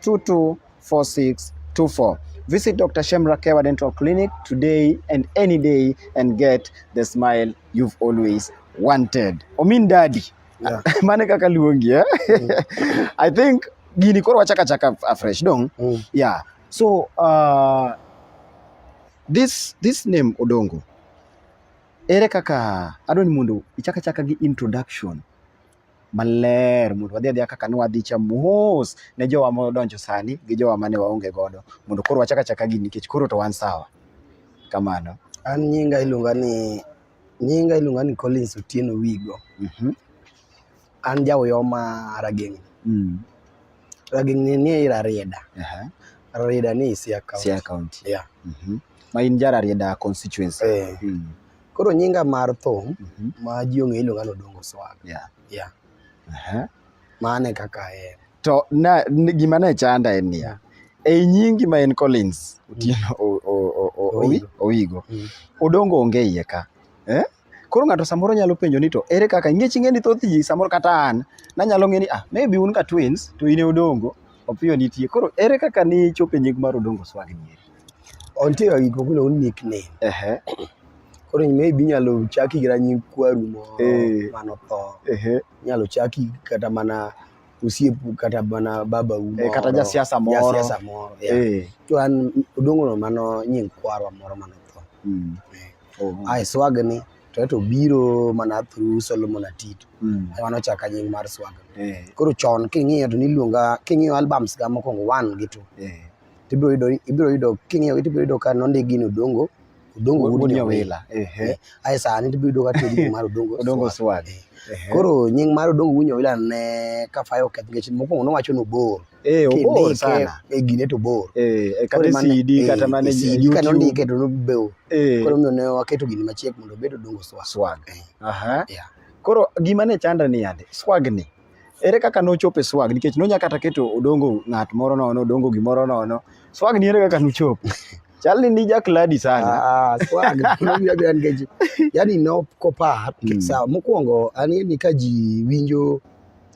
0712224624. Visit Dr. Shemra Kewa Dental Clinic today and any day and get the smile you've always wanted. Omin daddy. Yeah. Mane kaka luongi eh? Mm. I think gini koro wachaka chaka afresh dong. Mm. Yeah. So uh, this this name Odongo ere kaka adwa ni mondo ichaka chaka gi introduction maler mondo wadhi adhiya kaka ne wadhi cha mos ne jowa modonjo sani gi jowa mane waonge godo mondo koro wachak achaka gini nikech koro to wan sawa kamano an nyinga iluonga ni nyinga iluonga ni Collins Otieno Wigo mm -hmm. an jaoyo ma Rageng mm. Rageng ni ni Rarieda uh -huh. Rarieda ni Siaya County Siaya County yeah mm -hmm. ma in ja Rarieda constituency eh. mm. Koro nyinga mar thum Mhm. ma ji ong'e iluonga ni Odongo Swag. Yeah. Yeah. Aha. Mane kaka en. To na n- gima ne chanda en niya, ei nyingi ma en Collins Otieno O- O- O- O- Owi- Owigo. Owigo, Mm. Odongo onge iye ka. Eh? Koro ng'ato samoro nyalo penjo ni to ere kaka ingech ing'e ni thoth ji samoro kata an nanyalo ng'e ni ah maybe un ka twins to in e Odongo Opiyo nitie. Koro ere kaka ni chope nying mar Odongo Swag ni? Ontie ga gik moko ni nickname. Ehe. Koro maybe inyalo chaki gi nying kwaru moro eh. mano tho. Ehe. Inyalo chaki kata mana osiepu kata mana baba u eh, moro. Kata jasiasa moro. Jasiasa moro. Eh. To an Odongo no mano nying kwarwa moro mano tho. Mm. Oh. Ai swag ni. to ato biro mana through Solomon Atito mm. ema nochaka nying mar Swaga yeah. koro chon king'iyo to niluonga king'iyo albums ga mokwongo one gi two yeah. tibiro yudo ibiro yudo king'iyo tibiro yudo ka nondik gin Odongo Odongo Wood Nyawila eh ai sani tibiro yudo ka tiyo nying mar Odongo Odongo Swaga koro nying mar Odongo Wood Nyawila ne kafayo keth nikech mokwongo nowacho ni obor Eh, obor sana. E gine to bor. Eh, e kare CD e, kata mane CD kata ndike to nobeo. Eh. Koro miyo ne waketo gini machiek mondo bedo dongo swag. Swag. Eh. Aha. Yeah. Koro gima ne chanda ni yande, swag ni. Ere kaka nochope swag nikech nonya kata keto odongo ng'at moro nono, odongo gimoro nono. Swag ni ere kaka nochop. Chalni ni jakladi sana. Ah, ah swag. Nobia bia ngeji. Yaani no kopa. Hmm. Sawa, mokwongo ani ni ka ji winjo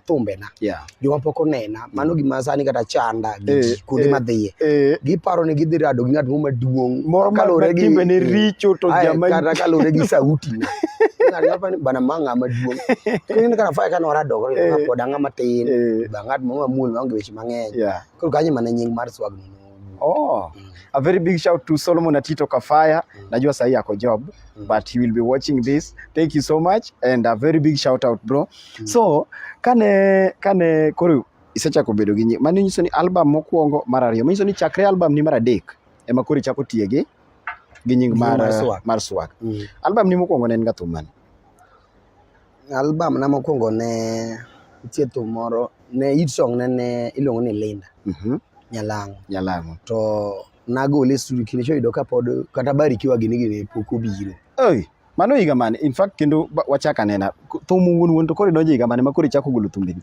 thumbena yeah. joma pok onena mm. mano gima sani kata chanda gi eh, kuonde eh, madhiye eh. giparo ni gidhi rado gi ng'at moro maduong' moro kalure gi timbene eh, richo to jama kata kalure gi sauti na bana ma ng'a maduong' kendo kana fa kana orado ko eh. pod ng'a matin eh. ba ng'at moro mamuol ma onge weche mang'eny koro kanyo mana nying mar swag ni Oh, mm. a very big shout to Solomon Atito Kafaya. Mm. Najua sahi ako job, mm. but he will be watching this. Thank you so much and a very big shout out bro. Mm. So, kane kane koro isechako bedo gi nying. Mano nyiso ni album mokwongo mar ariyo. Manyiso ni chakre album ni mar adek ema koro ichako tiye gi gi nying mar mar swag. Mm. Album ni mokwongo ne en ga thum mane? Album na mokwongo ne nitie thum moro ne hit song ne ne iluongo ni Linda Mhm. Nyalango. Nyalango. To nagole e studio kendo choyudo ka pod kata barikiwa gini gini pok obiro. Ei, mano higa mane? In fact kendo ba- wachak anena. Thum wuon wuon to koro idonjo higa mane ma koro ichako golo thumbeni?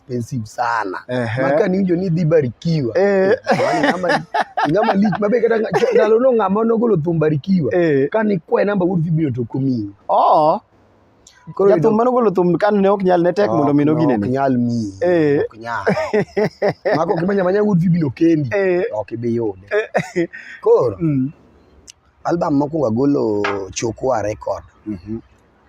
expensive sana Ehe. maka niwinjo ni idhi barikiwa Eh. Yaani ng'ama- ng'ama lich mabe kata nga- ndalono ng'ama nogolo thum barikiwa Eh. kane kwaye namba wuod vibino to ok omiyi Oo. Koro Jathum yudo- mano golo thum kan ne ok nyal ne tek mondo mi Ok, ok noginene. nyal miyi Eh. ok nyal maka ok imanya manya wuod vibino kendi Eh. ok ibi yude koro Mm. album mokwongo agolo chokwa record Mhm.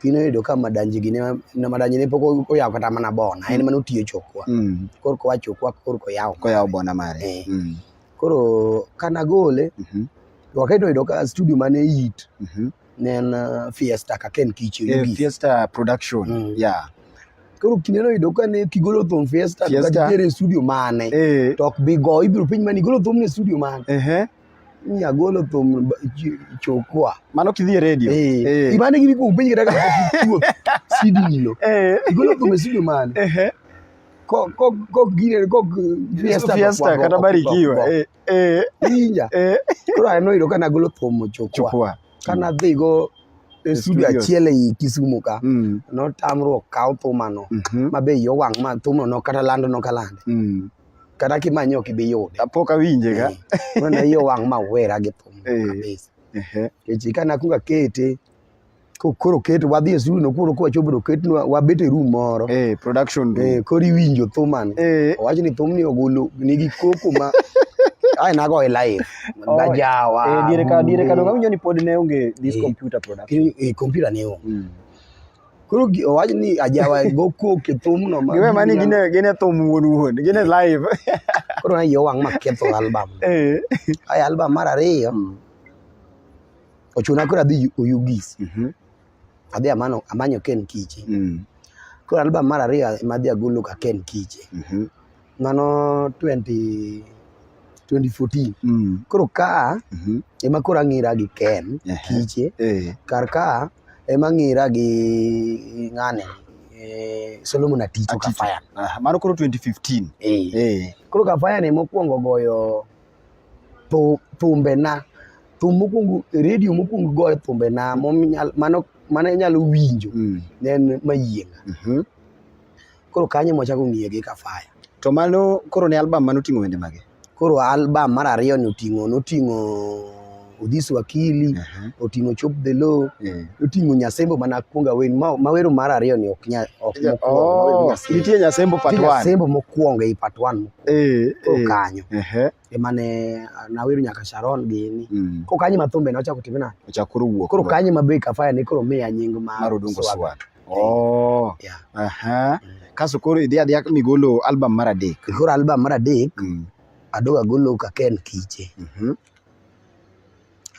Pi noyudo ka madanji gi ne- na madanji ne pok oyawo kata mana bona en mana otiyo chokwa Mm. koro koa chokwa koro koyawo Koyawo bona mare. Eh. Mm. koro kana gole Mhm. to wakati noyudo ka studio mane it Mhm. ne en uh, fiesta kaka en kiche Eh, mogik. Fiesta production. Mm. Yeah. koro kinde noyudo ka ne kigolo thum fiesta to Fiesta. katitere e studio mane Eh. to ok bi go ibiro penj mani igolo thum ne studio mane Ehe. ni agolo thum chokwa mano kidhi e redio eh, eh. imane gini kuom penj kata kakuo sidini lo eh. igolo thum e sidio mane kok gine kok fiesta kata barikiwa inja koro aneno yudo ka nagolo thum chokwa ka nadhi go e studio achiel ei Kisumu ka mm. notamruok kaw thumano mm-hmm. mabe yo wang' ma thumno nokata lando nokalande mm. kata kimanye ok ibi yude apok awinje ga eh, mana yo wang' ma wera gi thum eh. kabisa kechi ka nakuong akete koro ket wadhi e studio koro kwa chopo ket wabet e room moro eh production room eh koro iwinjo thuman eh. owacho ni thumni ogolo nigi koko ma ai nago e live oh, bajawa eh dire ka dire ka donga winjo ni pod ne onge this computer production eh computer ne onge mm. Koro gi- owach ni ajawa go kok e thumno ma Giwe mani gin e- gin e thum wuon wuon, gin e live. koro ne yo wang' maketho album. Eh. Ay album mar ariyo Mm. ochuna koro adhi Yu- Oyugis. Mhm. Adhi amano amanyo Ken Kiche. Mm. Koro album mar ariyo ema adhi agolo ka Ken Kiche. Mhm. mano 20 2014 mm. koro ka mm -hmm. ema koro ang'ira gi Ken uh -huh. kiche uh eh. -huh. kar ka ema ang'ira gi ng'ane eh, Solomon Aticho Aticho. Kafaya uh -huh. mano koro 2015 eh. Eh. koro Kafaya ne mokwongo goyo thumbe na thum mokwongo redio mokwongo goyo thumbe na mano mano inyalo winjo mm. ne en mayienga mm -hmm. Koro kanyo mwachako ng'iye gi Kafaya. To mano koro ne album mane oting'o wende mage? Koro album mar ariyo ni oting'o noting'o Odhis Wakili, uh -huh. oting'o Chop the Low, yeah. oting'o Nyasembo mana kuonga wen ma, ma wero mar ariyo ni ok nya ok yeah. mokuongo. Oh, nitie Nyasembo part 1. Nyasembo mokuongo ei part 1. Eh, eh. Kanyo. Uh -huh. emane nawero nyaka Sharon gini mm. ko kanyi mathumbe na ochako time na ochako koro wuok koro kanyi mabe kafaya ni koro miya nying ma mar odongo swag oh yeah. aha mm. kaso koro idhi adhi migolo album mar adek koro album mar adek mm. adoga golo ka ken kiche mm -hmm.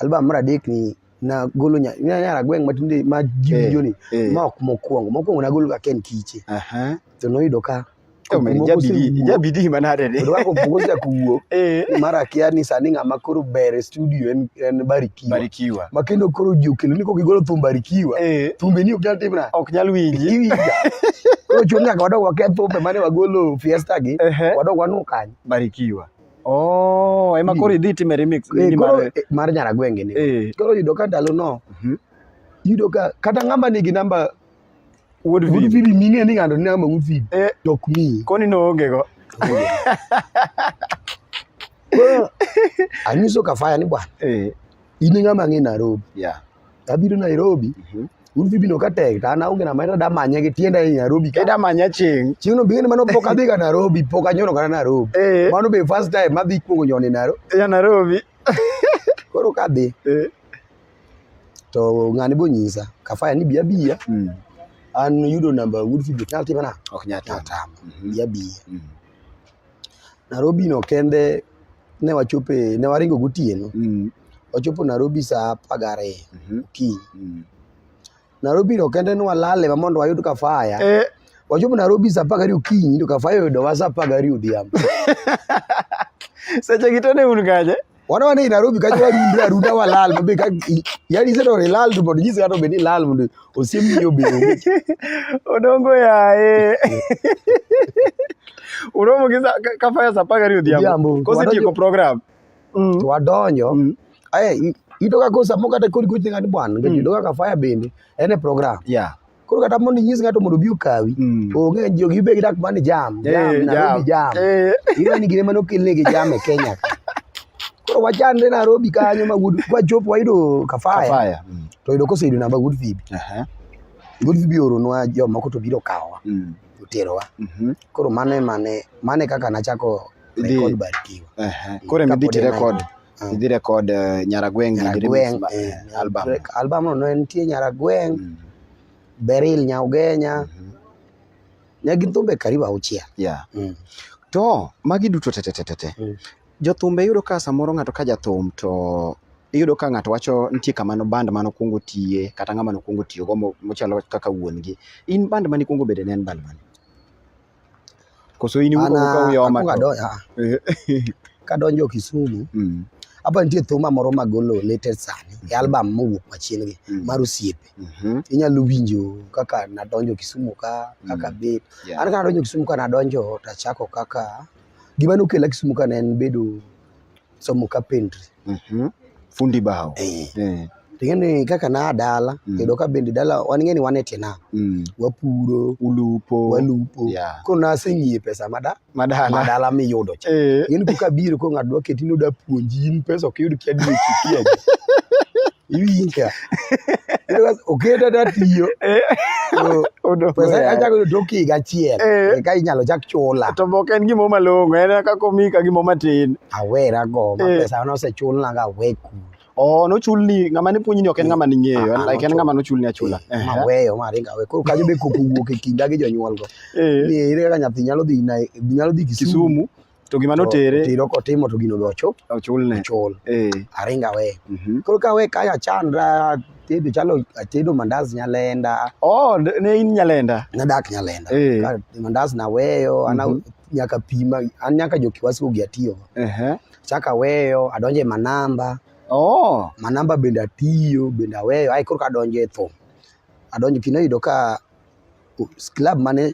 album mar adek ni nagolo nya- nya- nyara gweng' matinde ma ji Eh, winjo ni eh. ma ok mokwongo mokwongo nagolo ka ken kiche Aha. to noyudo ka Eh, man, moko ijabidi- osewuok. ijabidi manade ni. Kendo kaka opoko osechako wuok Eh. mar akia ni sani ng'ama koro ber e studio en, en barikiwa Barikiwa. ma kendo koro ji okelo ni kok igolo thum barikiwa Eh. thumbe ni ok nyal timna Ok nyal winji. iwinja koro chuno nyaka wadog waketh thumbe mane wagolo fiesta gi Ehe. wadog wanu kanyo Barikiwa. Oh, ema koro idhi time remix. Eh, nini koro, mare? eh, mar nyaragwenge ni Eh, koro yudo ka ndalo no mhm. yudo ka kata ng'ama nigi namba Wuod Vin. gudfili ming'e ni ng'ato ni namba gudfili Eh, to ok miyi koni noonge go. Koro, anyiso kafaya ni bwana Eh, in e ng'ama ng'e nairobi yeah. Abiro Nairobi. Mhm. Mm un bibi no katek ta na unge na mata da manya gi tienda e Nairobi ka da manya ching ching no bingene mano poka biga Nairobi poka nyono kana Nairobi eh. mano be first time ma bi kuongo nyone Nairobi ya Nairobi koro ka bi eh. to ngani bo nyisa kafaya ni biya biya mm. an yudo namba wood fibi talti bana ok nyata tam mm -hmm. biya biya mm. Nairobi no kende ne wachope ne waringo gotieno mm. wachopo Nairobi saa apar gariyo mm -hmm. okinyi mm. Nairobi no kende ne walale ma mondo wayud kafaya eh. wachopo Nairobi saa apar gariyo okinyi to kafaya oyudowa saa apar gariyo odhiambo seche gi to ne un kaje wana wana i Nairobi ka jwa rundra runda wa lal mabe ka yani sero re lal to bodi jisa to be ni lal mundo osemi yo be odongo ya e uromo kisa ka faya sapaka ri odhiambo kosi tieko program mm. wadonjo mm. aye itoka kosa mokata kodi kuthi ngani bwana mm. ngedoka ka faya bende ene program yeah koro kata mondo inyis ng'ato mondo obi okawi Mm. onge jogi ibe gidak mani jam Eh, jam Nairobi jam Eh. ing'ani gine mane okelnegi jam e Kenya ka. koro wachandre Nairobi kanyo ma Wood- kwachopo wayudo Kafaya Kafaya. Mm. to yudo koseyudo namba Good Vibe Aha. Good Vibe oronwa jomoko to biro kawowa Mm. oterowa Mhm. koro mano emane mane kaka nachako Idhi- record Barikiwa Aha. Koro ema idhi Kapod en tirekod. Ah. idhi record uh, Nyaragweng Nyaragweng eh, album album no nitie Nyaragweng mm. Beril Nyaugenya mm -hmm. ne gin thumbe karibu auchiel yeah. mm. to magi duto tetetetete mm. jothumbe yudo ka samoro ng'ato ka jathum to iyudo ka ng'ato wacho nitie kama no band mano kuongo tiye kata ng'ama no kuongo tiyo go mochalo kaka wuon gi in band mani kuongo bede ne en band mani Koso in iwuok ka uyoma. Kadonjo Kisumu. Mm. Apa nitie thuma moro ma golo latest sani e album mowuok machien gi mm. mar osiepe. Mm-hmm. Inyalo winjo kaka nadonjo Kisumu ka kaka mm. bit. An ka nadonjo Kisumu ka nadonjo tachako kaka gima nokela Kisumu ka ne en bedo somo carpentry. Mhm. Fundi bao. Eh. Eh. Ting'eni kaka naa dala, Mm. yudo ka bende dala wan ing'eni wan e tie nam, Mm. wapuro, Ulupo. walupo. Yeah. Koro naseng'iye pesa mada Madala. madala miyudo cha. Eh. Ing'eni koka biro ko ng'ato dwa keti ni oda puonji in pesa ok yud kia dwe chikia. iwinja oketa tatiyo eh. pesa achako yudo tok higa achiel eh. eka inyalo chak chula to ok en gimo malong'o en kaka omi ka gimo matin awera go ma eh. pesa ne osechulna ga awe kul Oh, nochulni ng'ama ne puonjni ok en ng'ama ning'eyo, ah, like en ng'ama nochulni achula. Maweyo ma ringa we. Koro kajo be koko wuok e kinda gi jonyuol go. Ni ere kaka nyathi nyalo dhi nyalo dhi Kisumu to gima notere tiro kotimo to gino be ochul ochulne ochul eh aringa we mm -hmm. koro ka we kaya chandra tedo chalo atedo mandazi nyalenda oh ne in nyalenda nadak nyalenda eh. Ka mandazi naweyo ana Mhm. nyaka pima an nyaka jokiwasi ogi atiyo ehe chaka weyo adonje manamba oh manamba bende atiyo bende aweyo ai koro kadonje e thum adonjo kino yudo ka u- club mane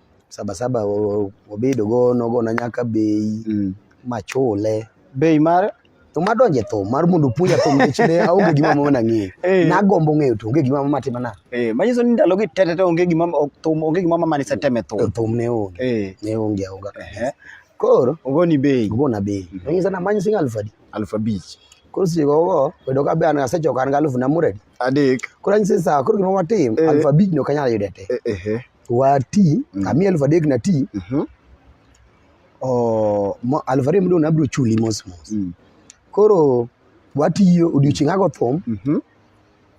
sabasaba obedo go nogona nyaka bei mm. machule bei mar to madonjo e thum mar mondo puonja thum nechne aonge gima mama nang'eyo eh. nagombo ng'eyo to onge gima mama timana eh, manyiso ni ndalogi tete te onge gima thum onge gima mama niseteme thum eh, thum ne onge ne onge aonga koro ogoni bei ogona bei mhm. manyiso na manyi sing alfu adi alfu abich koro sigogo bedo ka be an asechoka an ga alfu namuredi adek koro anyise saa koro gima watim Eh. aluf abich no kanyal yude te Eh, ehe. wati Mm. kami aluf adek na ti Mhm. o, mo- aluf ariyo modong' nabiro chuli mos mos Mm. koro watiyo odiochieng' ago thum Mhm.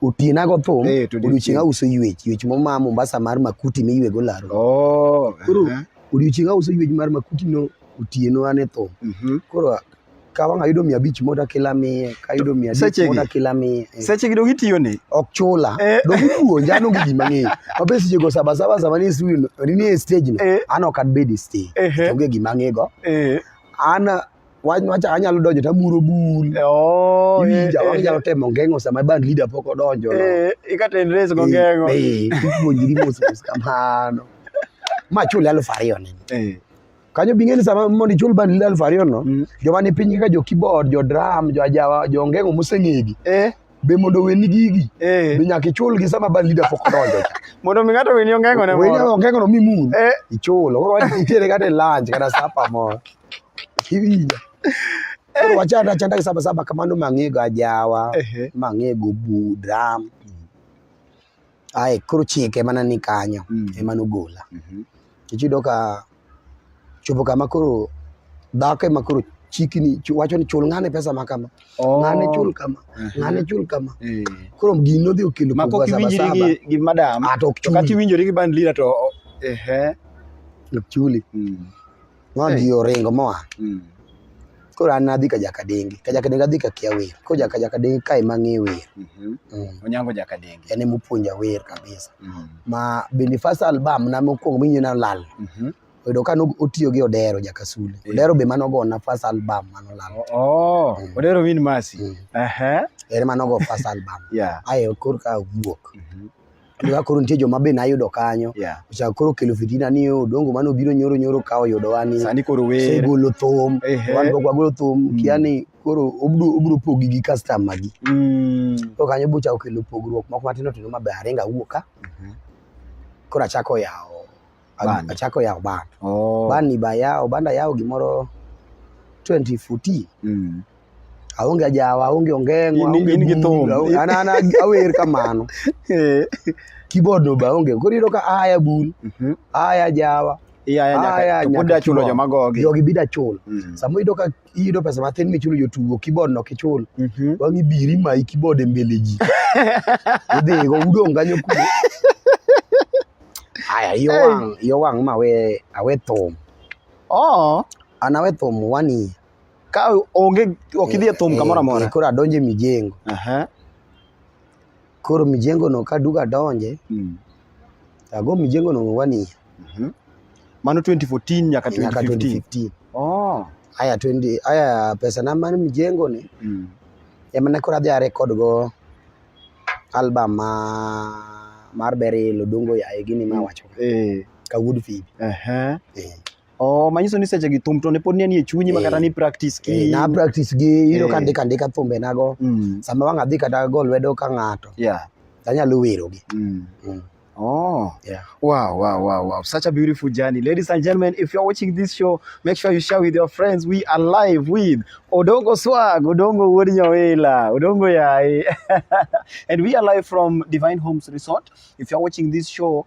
otieno ago thum Eh, to odiochieng' odiochieng'. auso ywech ywech momaa mombasa mar makuti miywego laro Oh, Koro- ehe. odiochieng' auso ywech mar makuti no otieno an e thum Mhm. koro ka wang' ayudo mia abich moda kila miye ka ayudo mia adek Sechegi? moda kila miye eh. seche gi dong itiyo ni ok chula Eh. dong ipuonja an onge gima ng'eyo mabe seche go sabasaba sama ni studio no- ni nie stage no Eh. an ok abed e stage Ehe. onge gima ang'ego Eh, an wach wacha anyalo donjo to amuro bul oh, eh, iwinja eh, wang' inyalo temo ngeng'o sama band leader pok odonjo no. eh, ikaten res go ngeng'o Eh, eh, ipuonjri mos mos kamano ma chule alufu ariyo nini Eh, kanyo bing'eni sama mondo ichul bandi aluf ariyo no mm. joma ni piny kaka jo keyboard jo drum jo ajawa jo ngeng'o moseng'egi eh be mondo weni gigi eh. be nyaka ichulgi sama band leader pok donjo mondo mi ng'ato weni ongeng'o ne moro weni ongeng'o no mimun eh. ichulo koro wach itere kata e lunch kata sapa moro iwinja koro eh. wachanda achanda gi saba saba kamano mang'ego ajawa mang'ego bu drum Ae koro chike ema nani kanyo mm. ema nogola. Mm -hmm. Kech yudo ka chopo kama koro dhako ema koro chikini wacho ni chul ng'ane pesa ma kama oh. ng'ane chul kama uh -huh. ng'ane chul kama uh eh. -huh. koro gini nodhi okelo ma kok iwinjri gi, gi madam ah, to ok chuli kati iwinjri gi bandlira to ehe eh. ok chuli mm. Ma Hey. ji oringo moa. Mm. Koro an nadhi ka Jakadenge. Ka Jakadenge adhi ka kia wer. Koro jaka Jakadenge ka ema ng'e wer. Mhm. Mm. Onyango Jakadenge. En ema opuonja wer kabisa. Mm. Ma bende first album na mokwongo minyo na lal. Mhm. Oyudo ka no- otiyo gi Odero Jakasule. Eh. Odero be mano gona first album mano lal. O- Oh, Mm. Odero Min Mercy. Mm. Aha. En mano go first album. Yeah. Ayo koro ka wuok. Mhm. Kaka koro nitie joma be nayudo kanyo. Yeah. Ochako koro kelo fitina ni yo dongo mano biro nyoro nyoro ka oyudo wani. Sani koro wer. Se golo thum. Ehe. Wan go golo thum. Kia ni koro obro obro pogi gi customer gi. Mm. To kanyo bochako kelo pogruok moko matindo tindo mabe aringa wuoka. Koro achako yawo a- Band. achako yawo ban Oh. ban ni bayawo banda yawo gimoro 2014 Mm. aonge ajawa aonge ongeng'o In- aonge in gi bul, thum. aonge- an- an- an- awer kamano Eh. keyboard no ba onge koro iyudo ka aya bul Mhm. aya jawa Iya, iya, nyaka- Aya, to pod nyaka achulo chulo. joma gogi. jogi bida chul Mm. sama iyudo ka iyudo pesa matin michulo jotugo keyboard no kichul Mhm. wang'i biri mayi keyboard e mbele ji idhigo udong' kanyo kuno aya iyo Hey. wang' iyo wang' ma awe awe thum Oh, an awe thum one year ka onge ok idhi e thum kamoro Eh, amora. eh, koro adonjo e mijengo Aha. koro mijengo no ka duka donje mm. ago mijengo no wani mm -hmm. mano 2014 nyaka 2015 nyaka 2015 oh aya 20 aya pesa na mano mijengo ni mm. ema ne kora dhare kod go album ma mar berilo dongo ya gini ma mm. wacho eh ka wood feed eh uh -huh. eh Oh, manyiso ni seche gi thum to ne pod nie chunyi ma kata eh. ni practice ki. Eh, na practice gi iro eh. ka ndika ndika thumbe nago. Mm. Sama wang' adhi kata go lwedo ka ng'ato. Yeah. Tanyalo wero gi. Mm. Mm. Oh, yeah. Wow, wow, wow, wow. Such a beautiful journey. Ladies and gentlemen, if you're watching this show, make sure you share with your friends. We are live with Odongo Swag, Odongo Wodinyawela, Odongo Yai. and we are live from Divine Homes Resort. If you're watching this show,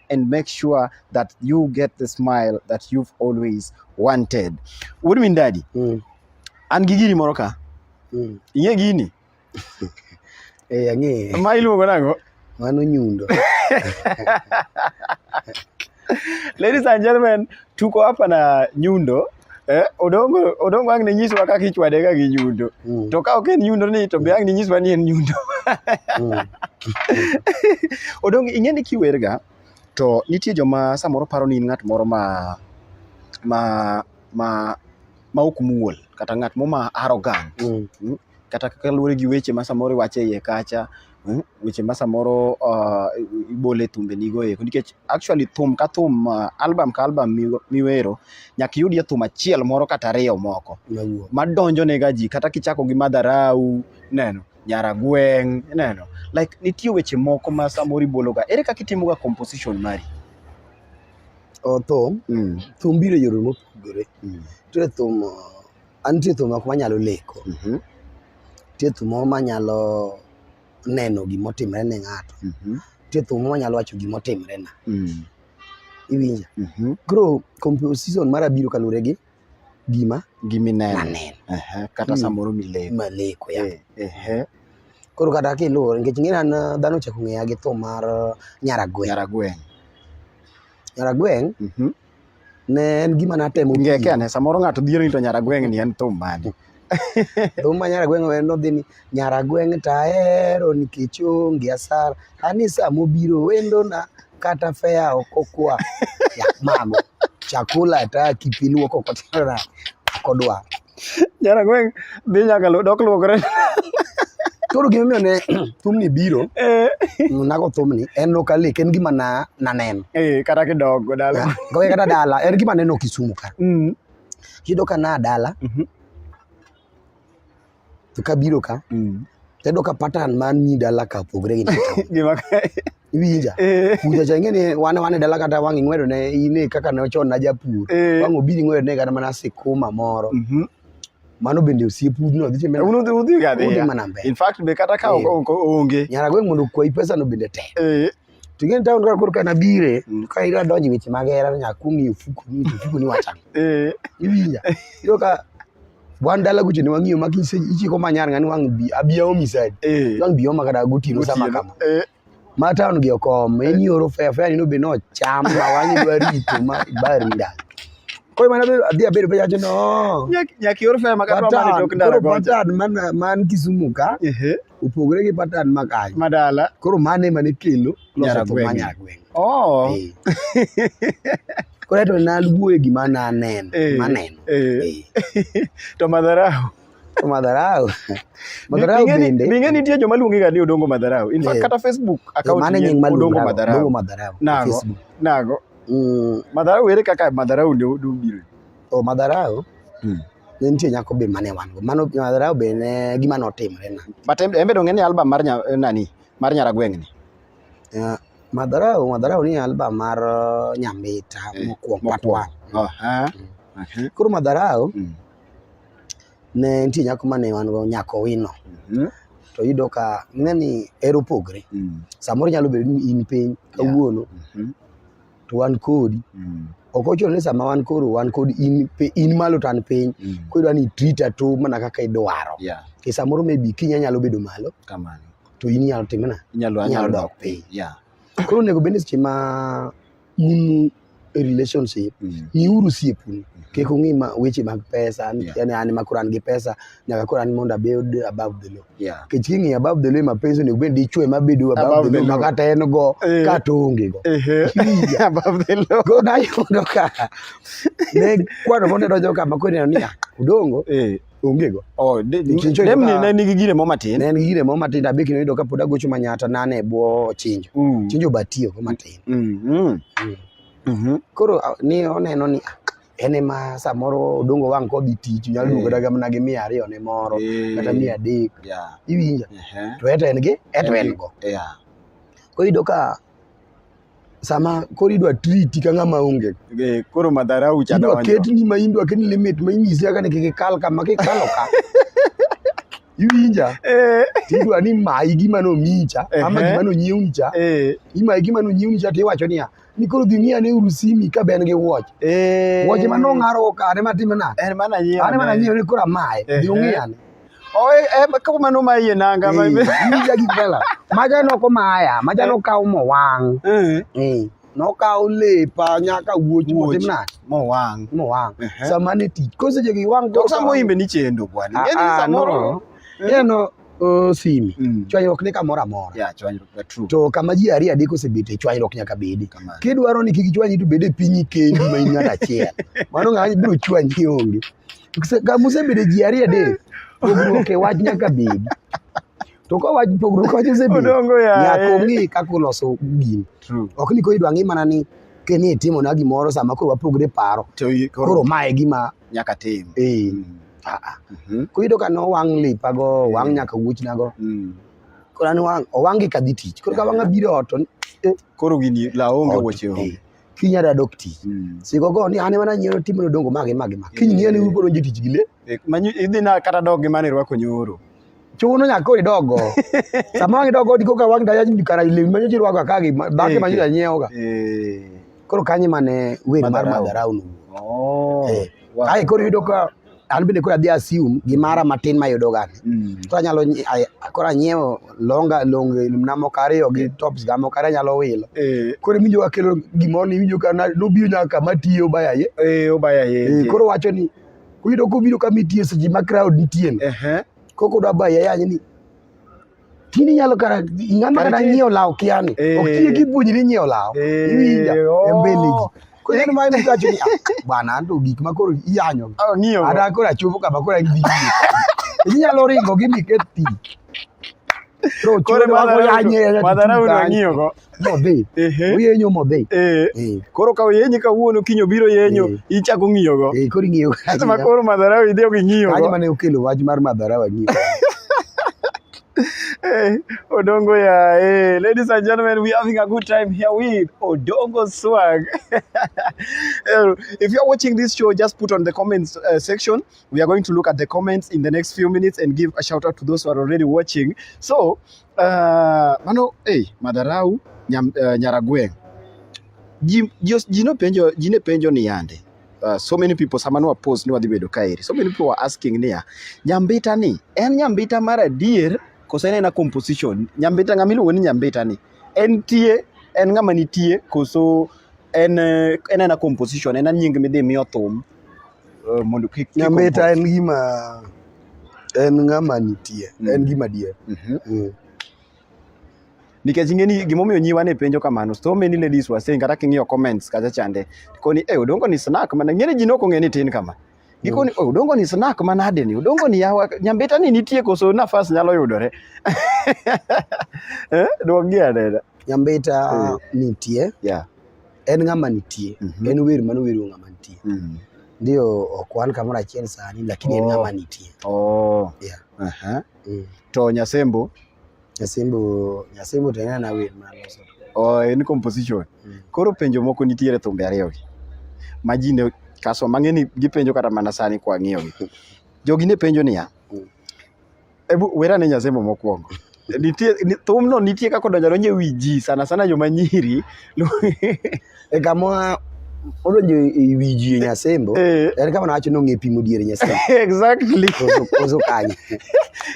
and make sure that you get the smile that you've always wanted. What do you mean daddy? Mm. An gi gini moro ka. Mm. Ing'e gini? Eh, ang'e. Ma iluongo nang'o? Mano nyundo. Ladies and gentlemen, tuko hapa na nyundo Eh, odongo odongo ang' ne nyiswa kaka ichwade ka gi nyundo. Mm. To ka ok en nyundo ni to be ang' ne nyiswa ni en nyundo. Mm. Odongo ing'e ni kiwerga to nitie joma samoro paro ni in ng'at moro ma ma ma ma ok muol kata ng'at mo ma arrogant. Mm. kata kaka luwore gi weche ma samoro iwacho e iye kacha, mm, weche ma samoro uh, ibole thumbenigo eko nikech actually thum ka thum uh, album ka album miw- miwero nyaka iyudie thum achiel moro kata ariyo moko Mawuo. madonjonega ji kata kichako gi madharau neno nyaragweng' neno like nitie weche moko ma samoro ibologa ere kaka itimoga composition mari O, thum mm. thum biro e yore mopogore Mm. nitie thum uh, An nitie thum moko manyalo leko. Mhm. Nitie thum moko manyalo neno gima otimre ne ng'ato. Mhm. Nitie thum moko manyalo wacho gima otimre na. Mm. Iwinja? Mhm. Koro composition mara biro kaluwore gi gima Gimineno. naneno Ehe, Kata Mm. samoro mileko. maleko ya. Eh, ehe. Koro kata kiluwore nikech ng'e an uh, dhano ochako ng'eya gi thum mar uh, Nyaragweng'. Nyaragweng. Nyaragweng' Mhm. ne en gima natemo ngeke ane samoro ng'ato dhiero ni to nyara gweng' ni en thum mane thum ma nyara gweng' wendo dhi ni nyara gweng' to ahero nikech onge asara ani sama obiro wendona kata fea ok okwa yak mago chakula hata kipiluoko kotinona ok odwar Jara gweng' dhi nyaka lu- dok luokre. Koro gima omiyo ne thumni biro, Eh, nago thumni, en ok alek, en gima na naneno. eh, kata kidogo dala. Gowe kata dala, en gima aneno Kisumu ka. Mm, Yudo ka na dala, mhm, to kabiro ka, mm. Tedo ka pattern man nyi dala ka pogre gi pattern. Gima kae. Iwinja. Eh. Puja cha ingene wane wane dala kata wang ingwedo ne ine kaka ne ochon na japur. Eh. Wang obiri ngwedo ne kata mana sikuma moro. Mhm. Mm mano bende osiep udno dhi timbe uno dhi udhi ga dhi in fact be kata ka eh. onge nyara gweng mondo kwayi pesa no bende tek eh. to ing'e ni taon kaka koro ka nabire Mm. ka ira donjo e weche mag hera to nyaka kuong' ng'iyo fuko ni to fuko ni wacho ang'o Eh, iwinja iyudo ka wan dala kucho ne wang'iyo ma kise ichiko manyar ng'ani wang' bi abiya omi side eh, wang' bi oma kata gotieno sama gotieno. kama Eh, ma taon gi okom en ioro fea fea ni nobe nocham ma wang'i dwa rito ma ibari ndalo koro mana bedo- adhi abedo piny acho no nyak- nyaka ior fea ma kata wamane tok ndara Patan, koro gocha. patan man- man Kisumu ka Ehe. opogore gi patan ma kanyo madala koro mane mane kelo loso thum ma nyaragweng oh eh. koro to naluwoe gima naneno eh, maneno eh. to madharau to madharau madharau bende ninge nitie joma luongi ga ni odongo madharau in fact kata facebook account mane nying odongo madharau nago nago mm. madharau ere kaka madharau ndio dubiro O madharau. Mm. Ne nitie nyako be mane wan go. Mano madharau be ne gima notimre na. But embe dong'e ni album mar nya, nani? Mar Nyaragweng' ni. Uh, madharau, madharau ni album mar uh, Nyambita eh, mokwongo part 1. Oh, ha. Mm. Okay. Koro madharau mm. ne nitie nyako mane wan go nyako wino. Mm -hmm to yudo ka ng'eni ero pogre mm. samoro nyalo bedo ni in piny kawuono yeah. mm -hmm. to wan kodi mm. ok ochuno ni sama wan koro wan kod in, in malo to an piny mm. koro idwa ni trita to mana kaka idwaro yeah. e samoro maybe kinya nyalo bedo malo kamano to in inyalo timo na inyalo dok piny yeah. koro onego bende seche ma un e relationship mm. miuru siepuni mm. kik ung'i weche mag pesa yeah. yani an makoro an gi pesa nyaka koro an mondo abed above the law yeah. kech king'iyo above the law mapenzi onego bed dichwe mabedo above the law makata en go eh. kata onge go above the law go nayudo ka ne kwano mondo donjo kama koro neno niya odongo eh. onge go oh, demni ne nigi gire mo matin ne en gi gire mo matin abe kino yudo ka pod agocho manyata nane e bwo chinjo mm. chinjo batiyo go matin mm, mm. koro ni oneno ni ah, en ema samoro odongo wang' kodhi tich nyalo duogo eh. daga mana gi mia ariyo ne moro eh. kata mia adek iwinja to eto en gi eto en go koro iyudo ka sama koro idwa triti ka ng'ama onge eh, koro madharau chadonjo idwa ketni ma idwa ketni limit ma inyisi kaka ni kik ikal kama kikalo ka iwinja eh. tidwa ni mayi gima nomicha ama gima nonyiewni cha eh. imayi gima nonyiewni cha tiwacho niya ni koro dhi ng'i ane uru simi ka be en gi wuoch eh. wuoche ma nong'arogo ka ane matime nade ane mana nyiewo ni koro amaye dhi ong'i ane kamano ma iye nanga maja gik mela maja noko maya maja nokaw mowang' nokawo lepa nyaka wuoch motim nade mowang' mowang' sama ne tich ko seche gi wang' to sama imbe ni chendo bwana ng'eni ah, ah, samoro neno simi mm. chwanyruok ni kamoro amora to kama ji ariyo adek osebet e chwanyruok nyaka bedi kidwaro ni kik chwanyi to bed e pinyi kendi ma in ng'at achiel mano ng'ani biro chwanyi onge kama osebedo e ji ariyo adek pogruok e wach nyaka bedi to ka wach pogruok wach osebedo Odongo yaye. nyaka ong'e kaka uloso gini True. ok ni koro idwa ng'i mana ni keni itimona gimoro sama koro wapogre paro To i- koro koro ma e gima nyaka tim. eh, Mm. ah, ah. Mhm. koro iyudo ka nowang' lipago owang' Mm. nyaka wuochnago Mm. koro an wang' owang' gi kadhi tich koro ka wang'a biro ot to ni- Koro gini la onge ot, wuoche eh, onge. kiny adadok tich Mm. siko go ni an ema nanyiewo timo nodongo magi magi magi kiny ng'eyo ni ubiro donjo e tich gi le Eh, manyi- idhi na kata dog gi mane irwako nyoro chuno nyaka koro idogo sama wang' idogo diko ka wang' daya kara lewni manyo ji rwako akagi bake Eh, manyo eh. janyiewoga Eh, koro kanye mane wer mar Madharau. madharau no oh, Eh, wow. kae koro yudo ka an bende koro adhi assume gimara matin mayudoga ni Mm, koro anyalo nyi- ay- koro anyiewo longa long na moko ariyo gi tops ga moko ariyo anyalo wilo eh, koro iwinjo ka kelo gimoro ni iwinjo ka na- nobiro nyaka kama tiyo bayaye eh, obaya Eh, yeye koro wacho ni Kuyudo kobiro kama itie seche ma crowd nitie no. Ehe. Koko dwa baye yanye ni. Tini nyalo kara ng'ama kata nyiewo law kiani. Eh. Ok tiye gi puonjri nyiewo law. Eh, Iwinja oh. e mbele ji. Ko en ma ni gacho ni ah, bwana ando gik ma koro iyanyo. Ah, ng'iyo. Ada koro achopo kama koro gidhi. Inyalo ringo gi miket ti. Koro madara unang'iyo go. modhi oyenyo modhi koro ka oyenyi kawuono kiny obiro yenyo ichako ng'iyogo koro ing'iyogo ma koro madharawa idhi ok ing'iyogo kanyo mane okelo wach mar madharawa ng'iyogo Hey, Odongo, yeah. Hey, ladies and gentlemen, we're having a good time here with Odongo Swag. if you're watching this show, just put on the comments uh, section. We are going to look at the comments in the next few minutes and give a shout out to those who are already watching. So, Uh, mano hey, madharau nyam, uh, nyaragweng' ji, ji, ji nopenjo ji ne penjo ni yande uh, so many people sama nwa post ni wadhi bedo kaeri so many people were asking niya nyambita ni en nyambita mar adier koso en ena composition nyambita ng'ama iluongo ni nyambita ni en tie en ng'ama nitie koso en eh, en ena composition en nying midhi miyo thum eh, mondo kik kik Nyambita en compost. gima en ng'ama nitie, Mm. en gima dier. Mhm. Mm. nikech ing'eni gimomiyo nyiwa ne penjo kamano so many ladies were saying kata king'iyo comments kacha chande koni e odongo ni snack mana ng'eni ji nok ong'e ni tin kama gikoni "Oh, odongo ni snack manade ni odongo ni yawa nyambita ni nitie koso nafas nyalo yudore eh dwokgi anena Nyambita Mm. nitie, yeah En ng'ama nitie. Mm -hmm. En wer mano wero ng'ama nitie. Mm -hmm. Ndio ok wan kamoro achiel sani lakini oh. en ng'ama nitie. Oh. Yeah. Uh -huh. mm. To Nyasembo Nyasembo Nyasembo to en wer ma loso. Oh, en composition. Mm. Koro penjo moko nitiere thumbe ariyo gi. Ma ji ne kaso mang'eni gipenjo kata mana sani kwa ng'iyo gi. Jogi ne penjo niya. Mm. Ebu wera ne Nyazemo mokwongo. Nitie ni- thumno nitie kaka odonjo donjo e wi ji sana sana joma nyiri. E kama odonjo e wi ji e Nyasembo, Eh, en kama nawacho ni ong'e pimo diere Nyasembo. exactly. Koso- Koso kanye.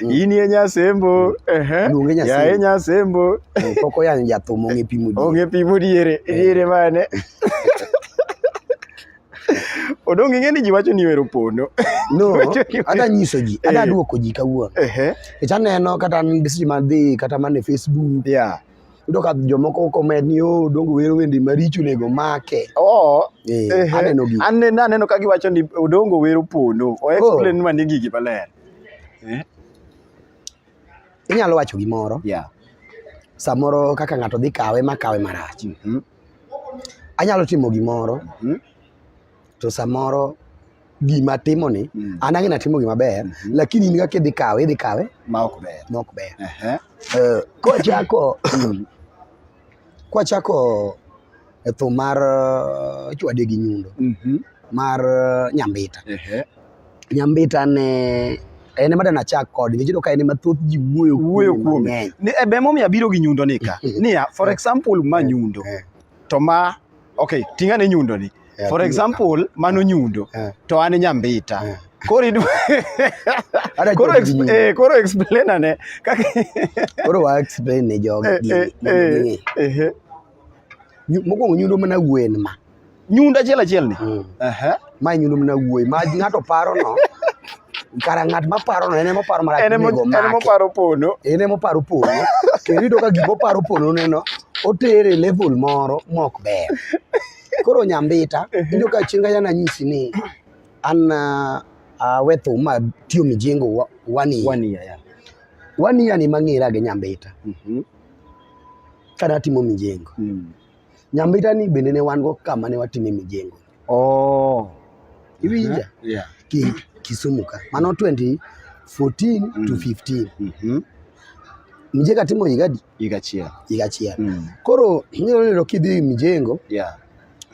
In ye Nyasembo. Ehe. Luonge Nyasembo. Yaye Nyasembo. Eh, Pok oyanyo jathum ong'e pimo diere. Onge pimo diere. Diere mane? Odong' ing'e ni ji wacho ni wero pondo. No, ada nyiso ji, ada eh. duoko ji kawuono. Ehe. Nikech aneno kata an message madhi kata man e Facebook. Yeah. Yudo ka jomoko comment ni oh, Odong' wero wende maricho onego make. Oh. Eh, eh. aneno gi. Aneno aneno ka giwacho ni Odong' wero pondo. O oh. explain oh. ni gigi maler. Eh. Inyalo wacho gimoro. Yeah. Samoro kaka ng'ato dhi kawe ma kawe marach. Mm -hmm. Anyalo timo gimoro mm. to samoro gima timo ni mm. an ang'e natimo gima ber mm -hmm. lakini in kaka idhi kawe idhi kawe ma ok ber ma ok ber uh -huh. uh, kwachako mm. kwachako e thum mar uh, chwade gi nyundo mm -hmm. mar uh, nyambita uh -huh. Nyambita ne en ema dana chak kod nikech iyudo ka en ema thoth ji wuoyo wuoyo kuom e be momiyo abiro gi nyundo ni ka niya for example ma nyundo eh. to ma okay tinga ne nyundo ni eh, for example mano nyundo eh. to an nyambita koro koro eh koro explain ane kaka koro wa explain ne jogi eh, eh, eh, mokwongo nyundo mana gwen ma nyundo achiel achiel ni mm. ma nyundo mana wuoyi ma ng'ato paro no kara ng'at ma paro no en ema oparo marach en ema oparo pono en ema oparo pono kendo iyudo ka gima oparo pono neno otere level moro mok ber koro nyambita iyudo ka chieng' kanya nanyisi ni an ah, awe thum ma tiyo mijengo one year one year yeah. one year ni mang'era gi nyambita mm -hmm. Kane atimo mijengo. Mm. Nyambita ni bende ne wan go kama ne watime mijengo. Oh. Iwinja? Yeah. Ki, Kisumu ka. Mano 2014 mm. to 15. Mm -hmm. Mjeka timo igadi? Igachia. Igachia. Mm. Koro, nyo nyo kidhi mijengo. Yeah.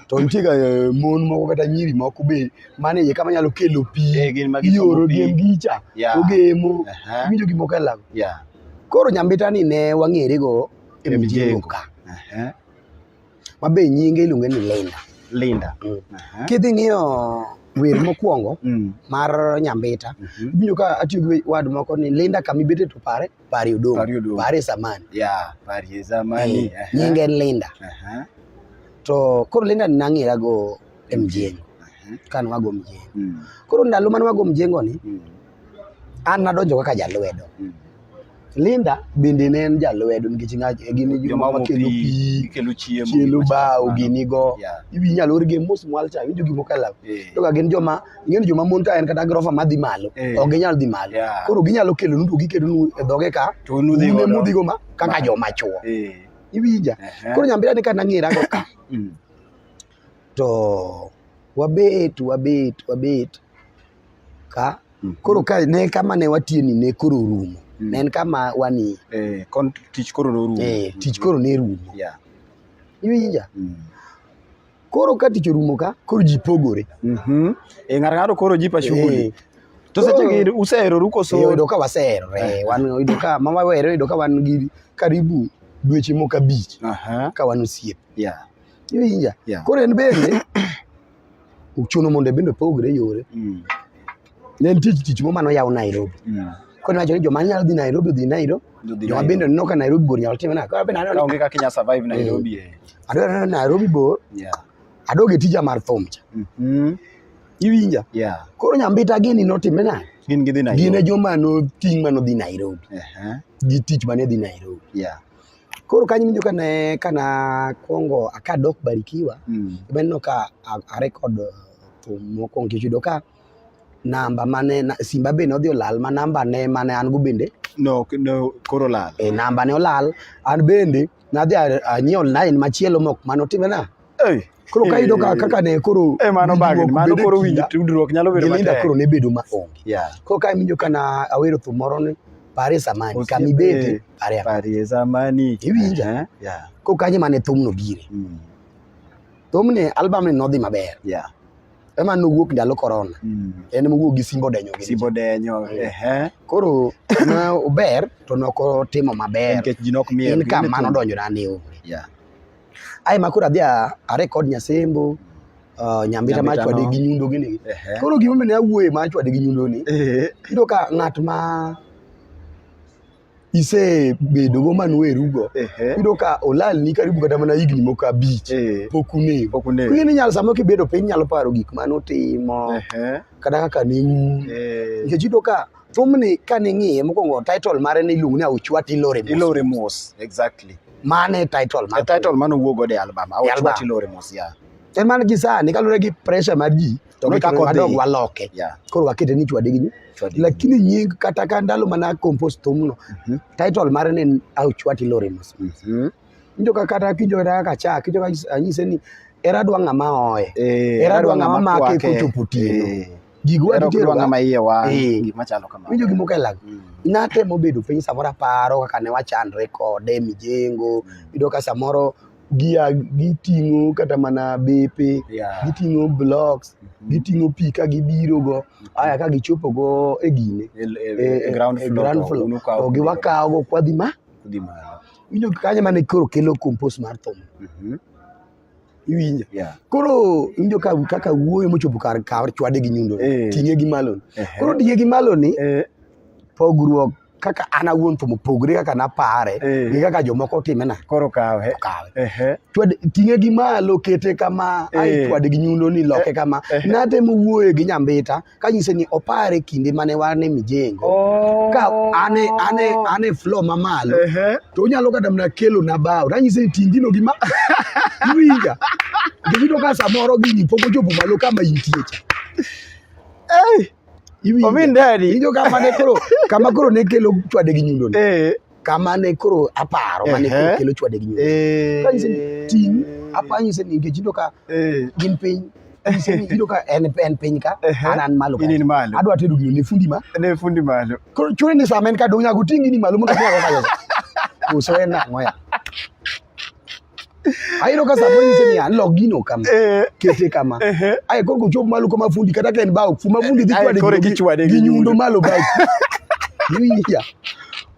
to nitie ga eh, mon moko kata nyiri moko be mane iye kama nyalo kelo pi Eh, gin ma gisomo ioro pi. gem gicha Yeah. ogemo Aha. winjo gik moko e lago Yeah. koro nyambitani ne wang'ere go e E mijengo mijengo. ka Aha. ma be nyinge iluonge ni Linda Linda. Mm. Aha. kidhi ng'iyo wer mokwongo Mm. mar nyambita Mhm. ibinjo ka atiyo gi wad moko ni Linda kama ibete to pare pari udongo pari, udongo. pari zamani yeah, pari zamani eh, nyinge en Linda uh -huh. to koro Linda nang'era go e mjengo uh -huh. kan wago mjengo mm. koro ndalo mane wago mjengo ni mm. an nadonjo kaka jalwedo mm. Linda bende ne en jalwedo nikech gin joma kelo pi, kelo chiemo, kelo bao, ginigo. Yeah. Inyalo orgi mos mwal cha, winjo gimoko e law. Yeah. To gin joma ing'e ni joma mon ka en kata grofa madhi malo eh. ok ginyal dhi malo yeah. koro ginyalo kelo nuto giketo nu e dhoge ka to nudhi go mudhi go ma kaka joma chuo eh. iwinja uh -huh. koro nyambira ni kana ngira go ka mm. to wabet wabet wabet ka mm -hmm. koro ka ne kama ne watie ni ne koro rumo mm. ne en kama wani eh kon tich koro rumo eh tich koro ne rumo yeah iwinja mm. Koro ka tich orumo ka, koro ji pogore. Mhm. Eh, ng'ato ng'ato koro jipa shughuli. Eh, To koro- seche gi useheroru koso? Eh, oyudo ka waseherore, wan oyudo ka ma wawere oyudo ka wan gi karibu dweche moko abich Aha. ka wan osiep. Yeah. Iwinja? Yeah. Koro en bende ochuno mondo bende opogre yore. Mm. Ne en tich tich moma noyaw Nairobi. Mm. Koro niwacho ni joma nyalo dhi Nairobi odhi Nairobi. Dudhi Joma Nairobi. bende oneno ka Nairobi bor nyalo time nade. Koro bende aneno ni Kaonge kaka inya survive Nairobi eh. adwa neno ni Nairobi bor, Yeah. adog e tija mar thum cha. Mhm. Iwinja? Yeah. Koro nyambita gini notime nade? Gin gidhi Gin e Nairobi. joma noting' ma nodhi Nairobi. Ehe. Gi tich mane dhi Nairobi. Yeah. Koro kanyo winjo ka ne ka nakwongo kadok Barikiwa, Mm. ema neno ka a- a record uh, thum mokwongo nikech yudo ka namba mane na, simba be nodhi olal ma namba ne mane an go bende no, no koro lal e namba ne olal an bende nadhi anyiewo line machielo mok mane otimena hey. koro ka yudo kaka ne koro e mano bag mano koro winjo tudruok nyalo bedo matek koro ne bedo ma onge yeah. koro ka iwinjo kana awero thum moro ni pare samani kami bete pare pare samani iwinja eh? yeah. koro kanyo mane thumno bire mm. thumni album ni nodhi maber yeah. ema nowuok ndalo korona mm. en mowuok gi simbo denyo gi simbo denyo eh. koro na ober to noko timo maber nikech ji nok miel en kam mano donjo na ni yeah. ai makura adhi a record nyasembo uh, nyambita ma chwade gi nyundo gi ni koro gima mene awuoye ma chwade gi nyundo ni iyudo ka ng'at ma isebedo go man werugo yudo ka olal ni karibu kata mana higni moko abich eh. pok unego pok unego ni nyalo sama kibedo piny nyalo paro gik mane utimo kata kaka ne un eh. nikech yudo ka thumni ka ning'iye mokwongo title mare ni iluongo ni auchwat ilore mos ilore mos exactly mane title mane title mane owuok godo e album auchwat ilore mos ya en man gi sani kaluwore gi pressure mar ji To Nochwere gichako wadog dhi. waloke Yeah. koro wakete ni chwade gi nyu- Chwade gi lakini nying kata ka ndalo mana akompos thumno Mhm. title mare ne en auchwati lorimus Mhm. injo ka kata kijo kata kaka cha kijo ka anyise ni era dwa ng'ama oye Eh, Era adwa dwanga ng'ama make kwake. kochopo otieno. Eh, gigo era ok dwa ng'ama iye wang', Eh. gima chalo kamano. winjo gima okelago Mm. natemo bedo piny samoro aparo kaka ne wachandre kode mijengo yudo ka samoro gia giting'o kata mana bepe yeah. giting'o blocks mm -hmm. giting'o pi ka gibiro go mhm. aya ka gichopo go e gine e, e, e, e ground floor to giwakawo go kwadhi ma winjo kanye mane koro kelo compost mar thum mm -hmm. iwinja yeah. koro winjo ka kaka wuoyo mochopo kar kar chwade gi nyundo eh. ting'e gi malo eh. koro ting'e gi malo ni eh. pogruok kaka an awuon to mopogore kaka napare eh. gi kaka jomoko timena koro kawe kawe twad ting'e gi malo kete kama eh. ai twad gi nyundo ni loke eh. kama natemo wuoye gi nyambita ka nyise ni opare kinde mane wane mijengo oh. ka ane ane ane flow mamalo to unyalo kata mna kelo na bao tanyise ni tingino gi ma iwinja giyudo ka samoro gini pok ochopo malo kama intie cha Ominderi. Iwinjo kama ne koro kama koro ne kelo chwade gi nyundo ni. Eh. Kama ne koro aparo mane koro kelo chwade gi nyundo. Eh. Kanyise ni ting apanyo se ni ngechindo ka eh. gin piny. Iwinjo ka en en piny ka an an malo. In malo. Adwa tedo gino ne fundi ma. Ne fundi malo. Koro chune ni sama en ka dong' nyago tingi ni malo mondo nyago kayo. Uso en ang'o ya. ayudo ka samoro nyise ni alok gino kama eh. kete kama eh. ae koro kochop malo kama fundi kata ka en bao fuma fundi dhi chwade gi nyundo malo bao iwinja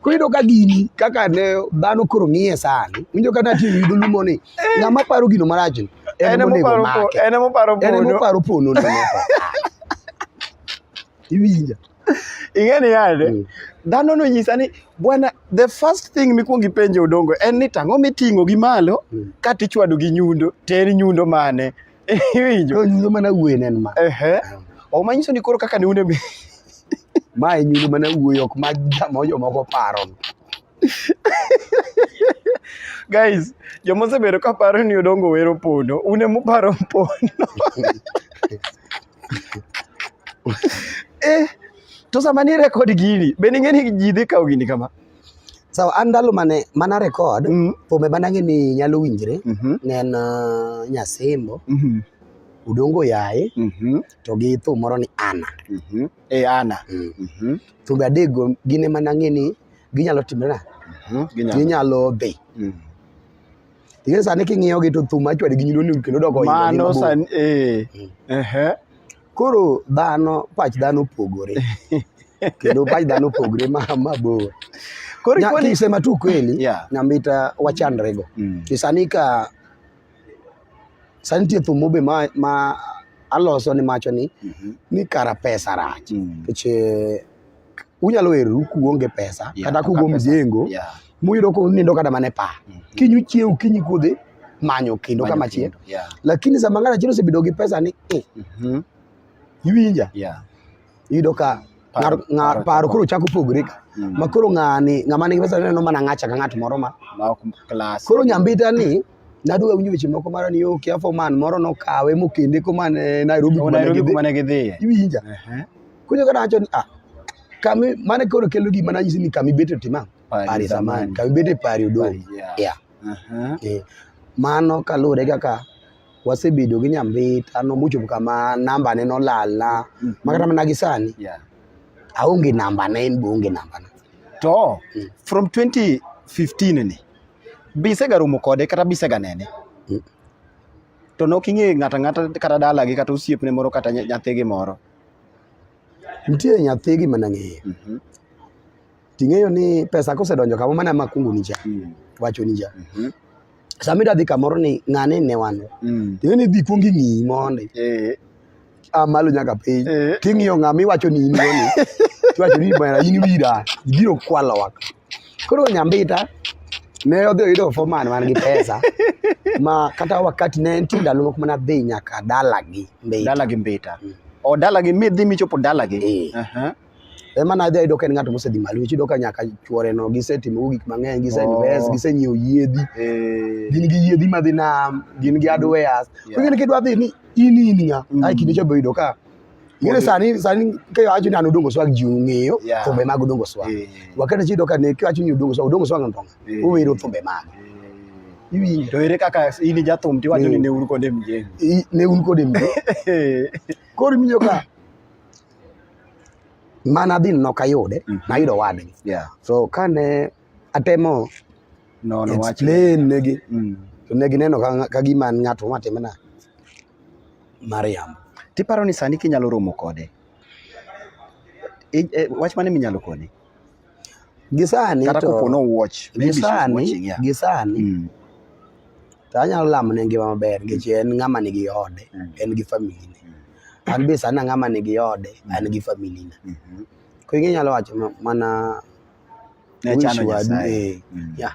koyudo ka gini kaka ne dhano koro ng'iye sani winjo kata tiyo yudo lumo ni eh. ng'ama paro gino marach ni en monego make en moparo pono iwinja ing'e ni yande mm. dhano nonyisa ni bwana the first thing mikwong ipenjo odongo en ni tang'o miting'o gi malo mm. ka tichwado gi nyundo ter nyundo mane iwinjo nyundo mana wuoyi nen ma ehe mm. ok manyiso ni koro kaka ne un e mae nyundo mana wuoyi ok ma jamo jomoko paro guys jomosebedo ka paro ni odongo wero pondo une muparo pondo eh, to sama ni record gini be ning'e ni ji dhi kawo gini kama sawa an ndalo mane mana record mm. thumbe manang'e ni nyalo winjre mm -hmm. ne en uh, nyasembo mm -hmm. udongo yaye mm -hmm. to gi thum moro ni ana mm -hmm. e eh, ana mm. mm -hmm. thumbe adekgo gin ema nang'e ni ginyalo timre na mm -hmm. ginyalo dhi mm. Ing'e sani king'iyo gi to thum achwadi gi nyundo ni kendo doko oingo ni mano mabor. sani eh ehe Koro dhano, pach dhano opogore. kendo pach dhano opogore ma mabor. koro Nya- ikoni Kisema tu kweli, Yeah. Nyambita wachandrego. Mm. Ni sani ka sani nitie thum mobe ma, ma aloso ni macho ni Mhm. ni kara pesa rach. Mm. Nikech eh, unyalo weru kuonge pesa yeah, kata kugo mjengo yeah. muyudo ko nindo kata mane pa mm -hmm. kinyu chiew kinyi kudhi manyo kendo kama chie yeah. lakini sama ngana chiro sebido gi pesa ni eh. mm -hmm. iwinja yeah. yudo ka ngar paro koro chako pogre ka mm. makoro ng'ani ng'ama nigi pesa neno mana ng'acha ka ng'at moro ma koro nyambita ni nadwa winjo weche moko mara ni okay afo man moro nokawe mokende ko man eh, Nairobi kuma Nairobi kuma ne gidhiye iwinja kunyo kana acho ni ah kami mane koro kelo gima nanyisi ni kami bete tima pari zamani kami bete pari odo yeah eh, mano kaluwore kaka wasebedo gi nyambita nomuchopo kama namba ne nolalna mm-hmm. makata mana gi sani aonge namba ne en be onge namba na to mm. from 2015 ni Be isegaromo kode kata be iseganene? Mm. To nok ing'eyo ng'ato ang'ata kata dalagi kata osiepne moro kata nya- nyathigi moro. Nitie nyathigi mana ng'eyo. Mhm. Ting'eyo ni pesa kosedonjo kama mana ma kungu nija, Mm. wacho nija. Mhm. Sama idwa dhi kamoro ni ng'ane ne wan. Mm. Ting'eyo ni idhi kuong ing'i mondi. Eh, a malo nyaka piny Eh. ting'iyo ng'ama iwacho ni in goni iwacho ni bana in wira ibiro kwalo waka koro nyambita ne odhi oyudo foreman man gi pesa ma kata wakati ne nitie ndalo moko mana dhi nyaka dalagi mbita dalagi mbita o dalagi midhi michopo dalagi Eh. Aha. ema na adhi ayudo ka en ng'at mosedhi malo nikech iyudo ka nyaka chuore no gisetimogo gik mang'eny giseinvest Oh. gisenyiewo yiedhi Eh, gin gi yiedhi madhi nam gin gi adweyas Yeah. king'eni kidwa dhi ni in in ng'a Mm. ai kinde cha be yudo ka ing'eni sani sani ka iwacho ni an odongo swag ji ong'eyo Yeah. thumbe mag odongo swag eh, wakati chiyudo ka ne kiwacho ni odongo swag odongo swag no ndonga Eh. owero thumbe mage eh. iwinjo To ere kaka in jathum tiwacho ni Eh. ne uru kode mjengo? I- ne un kode mbi koro imiyo ka mana dhi nok ayude mm -hmm. nayudo wadgi yeah. so kane atemo no, no, explain negi mm. to negi neno ka gima an ng'ato matimena Mariam. Tiparo ni sani kinyalo romo kode? E, wach mane minyalo kone? Gisani kata to kopo no watch maybe she's gisani watching yeah. gisani Mm. to anyalo lamo ne ngima maber nikech en ng'ama nigi ode Mm. en gi famili ne Mm. an be sani ang'ama nigi ode Mm. an gi famili na Mhm. koro ing'e nyalo wacho ma- mana Ne wish chano wadu, Nyasaye. eh, Mm. yeah.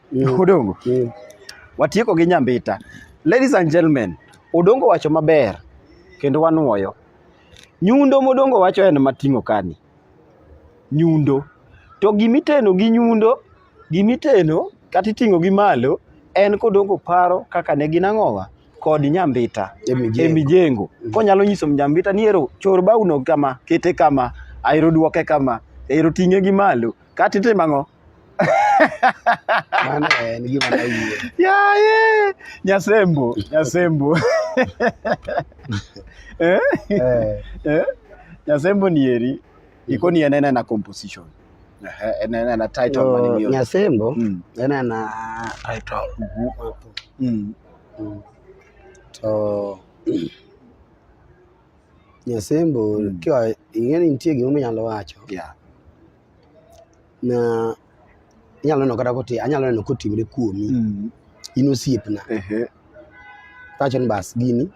mm. Odongo mm. watieko gi nyambita. Ladies and gentlemen, Odongo wacho maber kendo wanuoyo. Nyundo modongo wacho en mating'o kani. Nyundo. To gimiteno gi nyundo, gimiteno kata iting'o gi malo en kodongo paro kaka ne gin ang'owa kod nyambita e mijengo mm. konyalo nyiso nyambita ni ero chor bauno kama kete kama aero duoke kama ero ting'e gi malo kata itimo ang'o yaye nyasembo nyasembo eh? Eh. Eh? nyasembo ni eri mm-hmm. iko ni enene na composition enene na title mani mio nyasembo mm. enene na title mm-hmm. mm. Mm. to nyasembo kiwa ing'eni nitie gimominyalo wacho yeah na inyalo neno kata kote anyalo neno kotimre kuomi mm. in osiepna tawacho ni bas gini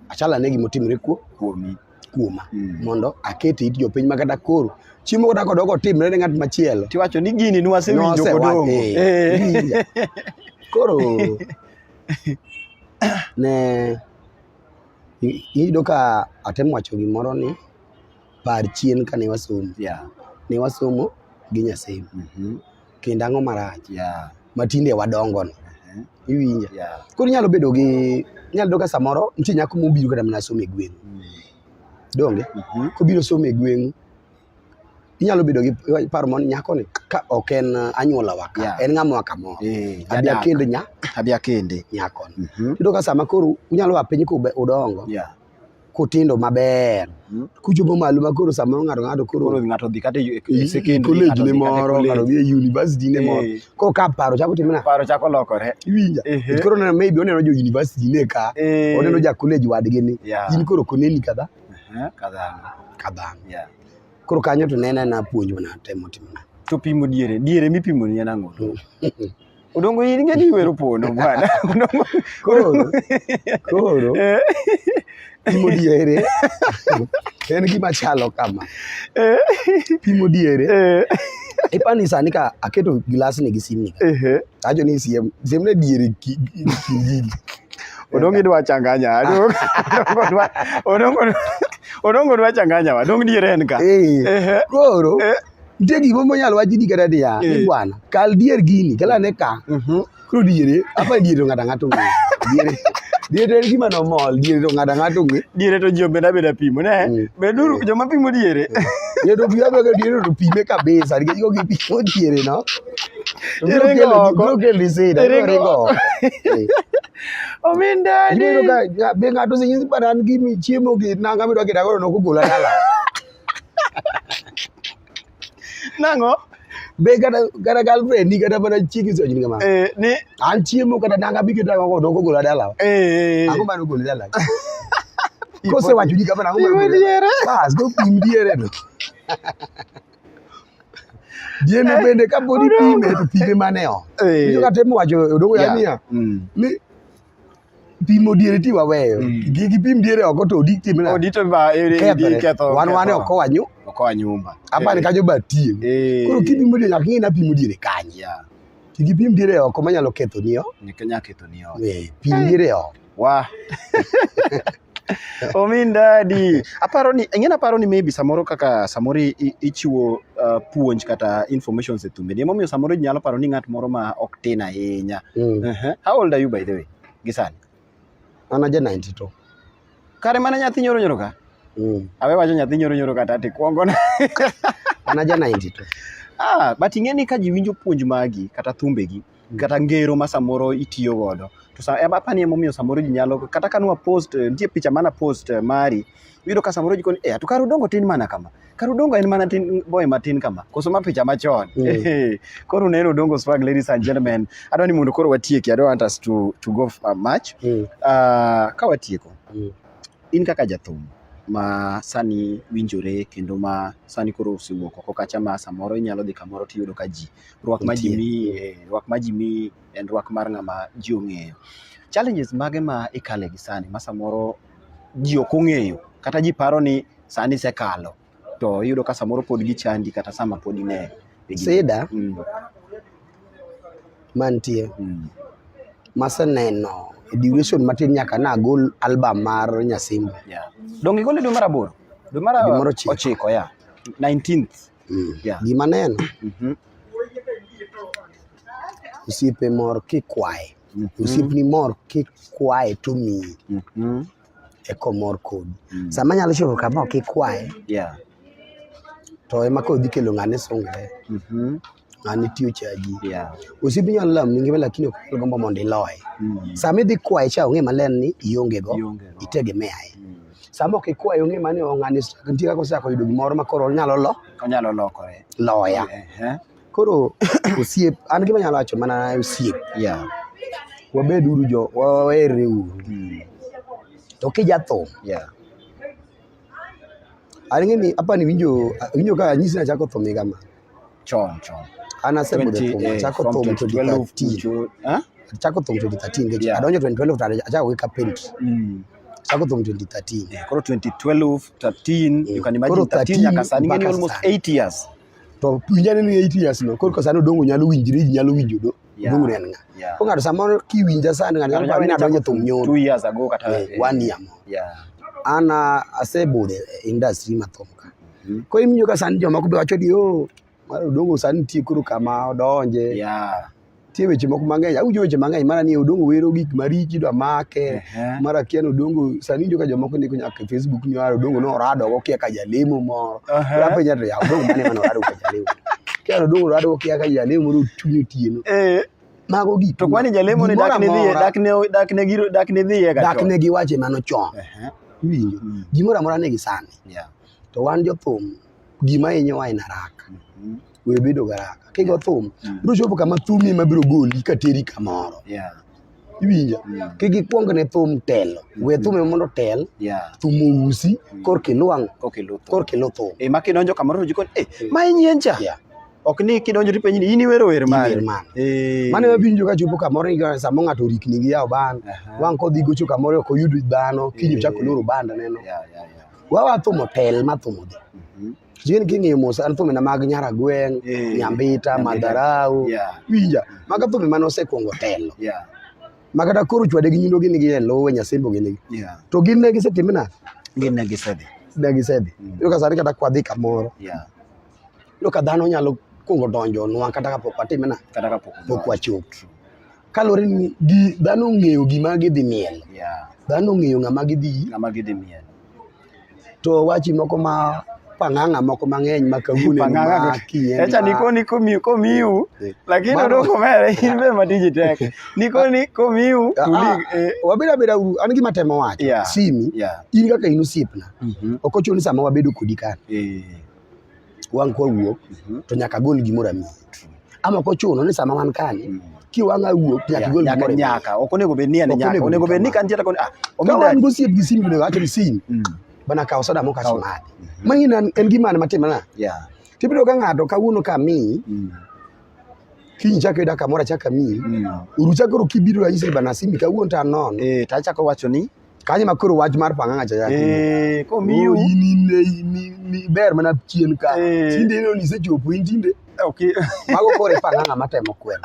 achala ne gima otimre kuomi kuoma mm. mondo akete it jopiny ma kata koro chiemo kata kodoko otimre ne ng'at machielo tiwacho ni gini nwasewinjo kodongo eh. koro ne iyudo ka atemo wacho gimoro ni par chien kane wasomo yeah. ne wasomo gi nyasim mm -hmm. kendo ang'o marach yeah. matinde wadongo no uh-huh. iwinja yeah. koro inyalo bedo gi inyalo bedo ka samoro nitie nyako mobiro kata mana somo e gweng'u mm. donge mm -hmm. kobiro somo e gweng'u inyalo bedo gi paro mon nyako ni ka ok en uh, anyuola wa ka yeah. en ng'ama wa kamoro eh, abi akende nya abi akende nyako mm -hmm. ka sama koro unyalo wa piny ku udongo yeah. kutindo maber hmm? kuchopo malo ma koro samoro ng'ato ng'ato koro ng'ato dhi kata e, e secondary college ne moro ng'ato dhi e university ne moro eh. koro ka paro chako timo na paro chako lokore iwinja koro neno maybe oneno jo university ne ka eh. oneno ja college wadgi ni in koro koneni kadha kadhano kadhano koro kanyo to nena na puonj mana temo timo na to pimo diere diere mipimo ni en ang'o Odongo in ing'e ni iwero pono bwana. Odongo. Koro. Koro. Eh. Pimo diere. En gima chalo kama. Eh. Pimo diere. Eh. Ipani sani ka aketo gilas ni gi simni. Eh. Ajo ni siem, siem ne diere ki gigi. Odongo idwa changanya. Odongo dwa. Odongo. Odongo dwa changanya wa. Dong diere en ka. Eh. Koro. Eh. nitie gik moko monyalo wachi di kata niya ni Eh. bwana kal dier gini kala ne ka Mhm. koro diere apa diere to ng'ato ang'ato ong'e diere diere to en gima nomol diere to ng'ato ang'ato ong'e Diere to ji obeda beda pimo ne. Mm. Beduru joma pimo diere. diere to pima bego diere to pime kabisa nikech kok ipimo diere no to biro Iringo kelo- oko. biro kelo lisida biro Iringo ringo oko. Eh. Ominda Ibiro ka be ng'ato osenyisi bana an gimi chiemo gi nanga midwa kida koro nokugula dala nango be kata kata girlfriend ni kata mana chiegi so nyinga ma eh ni an chiemo kata nanga bi kata ko doko gola dala eh ango mano gola dala ko se wacho ni kama nango mano gola diere bas go pim diere no diere bende ka bodi pime to pime maneo eh yo kata mo wacho doko ya niya ni pimo diere ti waweyo mm. gigi pim diere oko to odi tim na odi to ba e, e, e ketho wan wan oko wanyu oko wanyumba apa ni kajo ba tie eh. koro kipimo diere nyaka ng'e na pimo diere kanye gigi pim diere oko manyalo ketho niyo nyaka ketho niyo eh, pim diere oko wa Omin dadi. Aparo ni ing'e aparo ni maybe samoro kaka samoro ichiwo uh, puonj kata information e thumbe. Nimo miyo samoro nyalo paro ni ng'at moro ma ok tin ahinya. Mm. Uh -huh. How old are you by the way? Gisani. An aja 92. Kare mana nyathi nyoro nyoro ka? Mm. Awe wacho nyathi nyoro nyoro kata ati kwongo na. An aja 92. Ah, but ing'e ni ka ji winjo puonj magi kata thumbegi kata ngero ma samoro itiyo godo. To sa ema apani emomiyo samoro ji nyalo kata ka nwa post, nitie picha mana post mari, iyudo ka samoro ji koni eh to kare udongo tin mana kama. Kare udongo en mana tin boy matin kama. Koso ma picha machon. Mm. Koro uneno udongo swag ladies and gentlemen. Adwa ni mondo koro watieki. I don't want us to, to go uh, much. Mm. Uh, ka watieko. Mm. in kaka jathum ma sani winjore kendo ma sani koro osewuok oko kacha ma samoro inyalo dhi kamoro tiyudo ka ji rwak ma ji mi eh, rwak ma ji mi en rwak mar ng'ama ji ong'eyo challenges mage ma ikale gi sani ma samoro ji ok ong'eyo kata ji paro ni sani sekalo to iyudo ka samoro pod gichandi kata sama pod ine sida mm. mantie mm. maseneno e duration matin nyaka nagol album mar Nyasimba yeah. donge gole dwe mar aboro dwe mar ochiko ya 19th mm. yeah. gima neno mm -hmm. osiepe mor kikwaye mm -hmm. osiepni mor kikwaye to miyi mm -hmm. eko mor kodi mm. sama nyalo chopo kama ok ikwaye yeah. to ema koro dhi kelo ng'ane sungre mm -hmm. ng'ane tiyo chaji yeah. osipi nyalo lam ningima lakini ok nyal gombo mondo iloye mm. sama idhi kwaye cha ong'e maler ni iongego itegemeaye mm. sama ok ikwaye ong'e mani ong'ane nitie kaka osako yudo gimoro ma koro onyalo lo onyalo lokore loya yeah. Koro osiep an gima nyalo wacho mana osiep. Yeah. Wabed uru jo wawere uru. Mm. To kijathum. Yeah. An ng'eni hapa ni winjo winjo ka nyisi na chako thumi kama. Chon chon. An asebedo thum eh, chako thum to 2013. Huh? Chako thum 2013 yeah. Adonjo 2012 to achako weka paint. Mm. Chako thum 2013. Yeah, koro 2012 13 mm. you can imagine 13 nyaka sani ng'eni almost 8 years. to winj ane ni eight years no koro sani odongo nyalo winjre ji nyalo winjo do Yeah. odongo en ng'a Yeah. ko ng'ato samoro kiwinja sani ng'ato nyalo paro ni nadonjo thum nyoro Two years ago kata. Eh, eh, one year moro Yeah. an ah, asebudho e industry mathum ka Mhm. koro imiyo ka sani jomoko be wacho ni o mar odongo sani nitie koro kama odonje Yeah. nitie weche moko mang'eny awinjo weche mang'eny mara ni odongo wero gik marichi dwa make mara kia ni odongo sani winjo ka jomoko ndiko nyaka e facebook ni ara odongo ne orado go kia ka jalemo moro apenja to yaw odongo mane mane orado ka jalemo kia odongo orado go kia ka jalemo moro otuny otieno eh. mago gik to kwani jalemo ni dak ne dhiye dak ne dak ne giro dak ne dhiye ga dak ne giwache mano chon iwinjo gimoro amora ne gisani to wan jothum gima hinyowa en araka mm-hmm. we bedo garaka kigo thum mm. biro chopo kama thumi ema biro goli kateri kamoro iwinja mm. kik ikwong ne thum telo mm. we thum ema mondo tel thum ousi korka ilwang' korka ilu thum e, ma kidonjo kamoro to jikoni eh, e ma inyien cha ok ni kidonjo to ipenji ni in iwero wer mane eh. mane wabinjo ka chopo kamoro ni samo ng'ato orikni gi yawo ban wang' kodhi gocho kamoro ok oyud dhano kiny ochako eh. loro banda neno Wawa thumo pel ma thumo dhi. Mhm. Jin king'iyo mos an thume na mag Nyaragweng, Eh, Nyambita, Nyambita. Madharau, Yeah. winja. Maga thume mane osekwongo telo. Yeah. Ma kata koro chwade gi nyundo gin gi e lowe Nyasembo gin gi. Yeah. To gin ne gisetime na Gin ne gisedhi. ne gisedhi. Mm. Iyudo ka sani kata kwadhi kamoro. Yeah. Iyudo ka dhano nyalo kwongo donjo nwa kata kapok watime na Kata kapok pok wachopo. Kaluwore ni gi dhano ong'eyo gima gidhi miel. Yeah. Dhano ong'eyo ng'ama gidhi. Ng'ama gidhi miel. To wachi moko ma pang'ang'a moko mang'eny ma kawuono ma kinyeni. Echa niko ni komiu komiu eh. lakini oro komere in be matiji tek. Niko ni komiu ah, ah, tuli. Eh. Wabira bira an gima temo wacho. Yeah. Simi. Yeah. In kaka in osiepna. Mm -hmm. Okochuno ni sama wabedo kodi kan. Eh. wang' kwa wuok mhm. to nyaka gol gimoro amiyi ama kochuno ni sama wan kani mm. kiwang' awuok nyaka igol gimoro nyaka ok onego bed ni en nyaka onego bed ni kantiere koni ah ka wan gosiep gi simu onego awacho ni simu mm. bana kawo soda moko aso madhi mm-hmm. ma in en gimane matimana tibiro ka ng'ato kawuono ka mi mm. kiny chako yuda kamoro achaka mi uru chakoro kibiro ranyisi bana simbi kawuono to anon eh, to achako wacho ni kanyo ma koro wach mar pang'ang'a cha yaki Eh, komiu. in in in- in- in- ber mana chien ka Eh. tinde ineno ni isechopo in tinde Okay. mago koro ipang'ang'a matemo kwel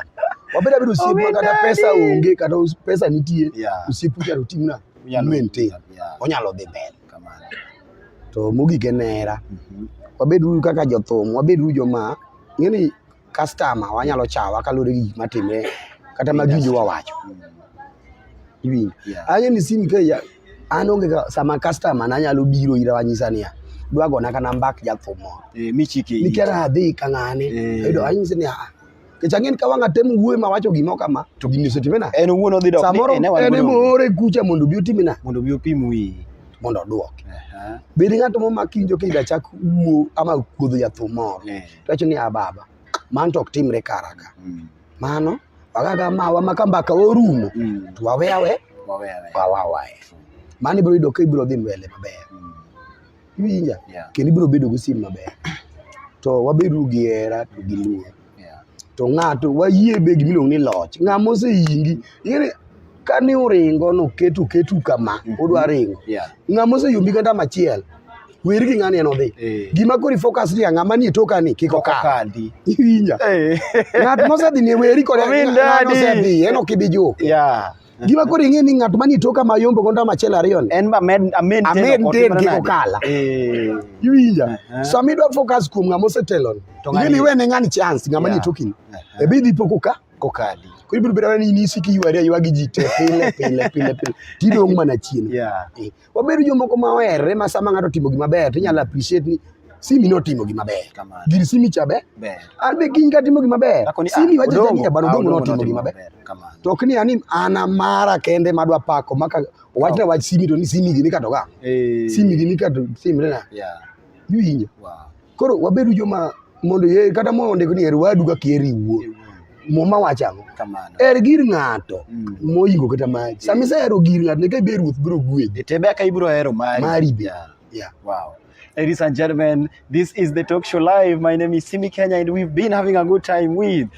wabed abed osiep ma kata Omedadi. pesa onge kata us- pesa nitie Yeah. osiep ucharo timna Unyalo- maintain Yeah, onyalo dhi mbele kamano. to mogik en hera Mhm. wabeduru kaka jothum wabeduru joma ng'eni customer wanyalo chawa kaluwore gi gik matimre kata ma giwinjo wawacho iwinjo yeah. anya ni sim ka ya an onge sama customer na nyalo biro ira wanyisa niya dwa gona kana mbak jathum moro eh, michike nikera adhi ka ng'ane eh. ayudo anyise ni aa kech ang'en ka wang'a tem wuoyo ma wacho gimo kama to gini osetimena en owuon odhi dok samoro en emoore kucha mondo obi otimina mondo obi opim wiyi mondo odwok. Bed ng'at momak winjo kidachak wuo ama kuodho jathum moro. Tuwacho ni ababa. Mano to ok timre kara ka. Mm. Mano wagaga mawa ma ka mbaka orumo mm. to wawe awe wawe awe wawe awe. Mano ibiro yudo ka ibiro dhi mbele maber. Mm. Iwinja? Yeah. Kendo ibiro bedo gi sim maber. To wabedo gi hera to gi luor. Yeah. To ng'ato wayie be gimiluongo ni loch. Ng'ama oseyingi. Ing'e kane uringo noketu ketu kama mm-hmm. udwa ringo yeah. ng'ama oseyombi kata machiel wer gi ng'ani en odhi eh. gima kori focus ni ng'ama ni toka ni kiko ka inya eh. ng'at mosedhi ni weri kore ng'ano sedhi en ok ibi juke yeah. gima koro ing'e ni ng'at mani toka ma yombo gonda machiel ariyo ni en ba med amen amen ten kiko kala eh. iwinja uh-huh. sama idwa focus kuom ng'ama osetelo ni ing'e ni wene ng'ani chance ng'ama ni toki ni ebi dhi poko ka kokali koro ibiro bedo ni inisi ki yuari ayua gi ji te pile pile pile pile tidong' mana chien yeah. eh, wabedo jomoko ma oherre ma sama ng'ato otimo gima ber to inyalo appreciate ni simi notimo gima ber gir simi cha ber an be kiny katimo gima ber simi ah, wacha ni bana odong' notimo gima ber to ok ni ani an amara kende madwa pako maka wach na wach simi to ni simi gini katoga eh. simi gini kato simre na yeah. yuinyo wow. Koro wabedu joma mondo ye- kata mondik ni her wadu kaka iheri iwuon. Muma wacho ang'o? Kamano. Her gir ng'ato Mm. moingo kata mari. Sama isehero gir ng'ato ne ka ibe ruoth biro gwedhi. Ete beka ibiro hero mari. Mari be. Yeah. Yeah. Wow. Ladies and gentlemen, this is the Talk Show Live. My name is Simi Kenya, and we've been having a good time with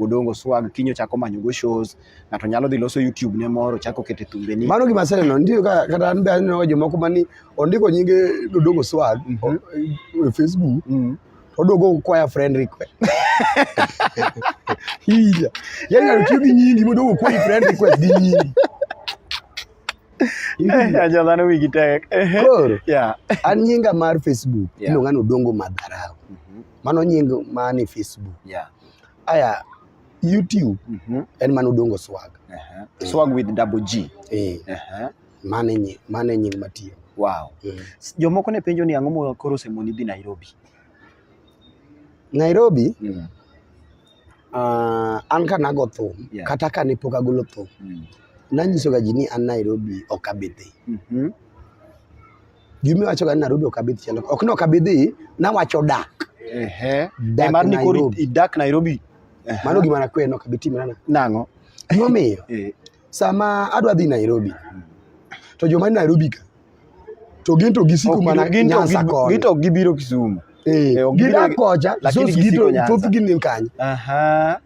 Odongo Swag kinyo chako manyo go shows, ng'ato nyalo dhi loso YouTube ne moro chako kete thumbe ni. Mano gima aseneno ndio ka kata an be aneno jomoko mani ondiko nyinge Odongo Swag mm -hmm. o, e Facebook mm -hmm. Odongo kwaya friend request hija yani anatiyo gi nyingi Odongo kwaya friend request gi nyingi aja dhano wigi tek koro yeah. an nyinga mar Facebook yeah. iluonga ni Odongo Madharau mm -hmm. mano nying mani Facebook yeah. aya YouTube mm -hmm. en mano dongo swag uh -huh. eh. swag with double G eh. uh -huh. mane nying mane nying matiyo wow mm. jomoko ne penjo ni ang'o mo koro semoni dhi Nairobi Nairobi mm. uh, an ka nago thum yeah. kata ka ne pok agolo thum mm. nanyisoga ji ni an Nairobi ok abidhi mm -hmm. Gima wacho ga ni Nairobi ok abi dhi chalo. Ok no ok abi dhi, nawacho dak. Ehe. Dak Mar ni koro Nairobi. idak Nairobi. Ehe. Mano gima nakwe no ok abi timo nana. nang'o? Gima omiyo Eh, sama adwa dhi Nairobi to joma ni Nairobi ka to gin to gisiko ok mana gin to Nyanza gi- koni. gito gibiro Kisumu. Eh, eh, ok gidak gibiro- kocha, lakini so gisiko gito Nyanza. thoth gin ni kanye. Aha.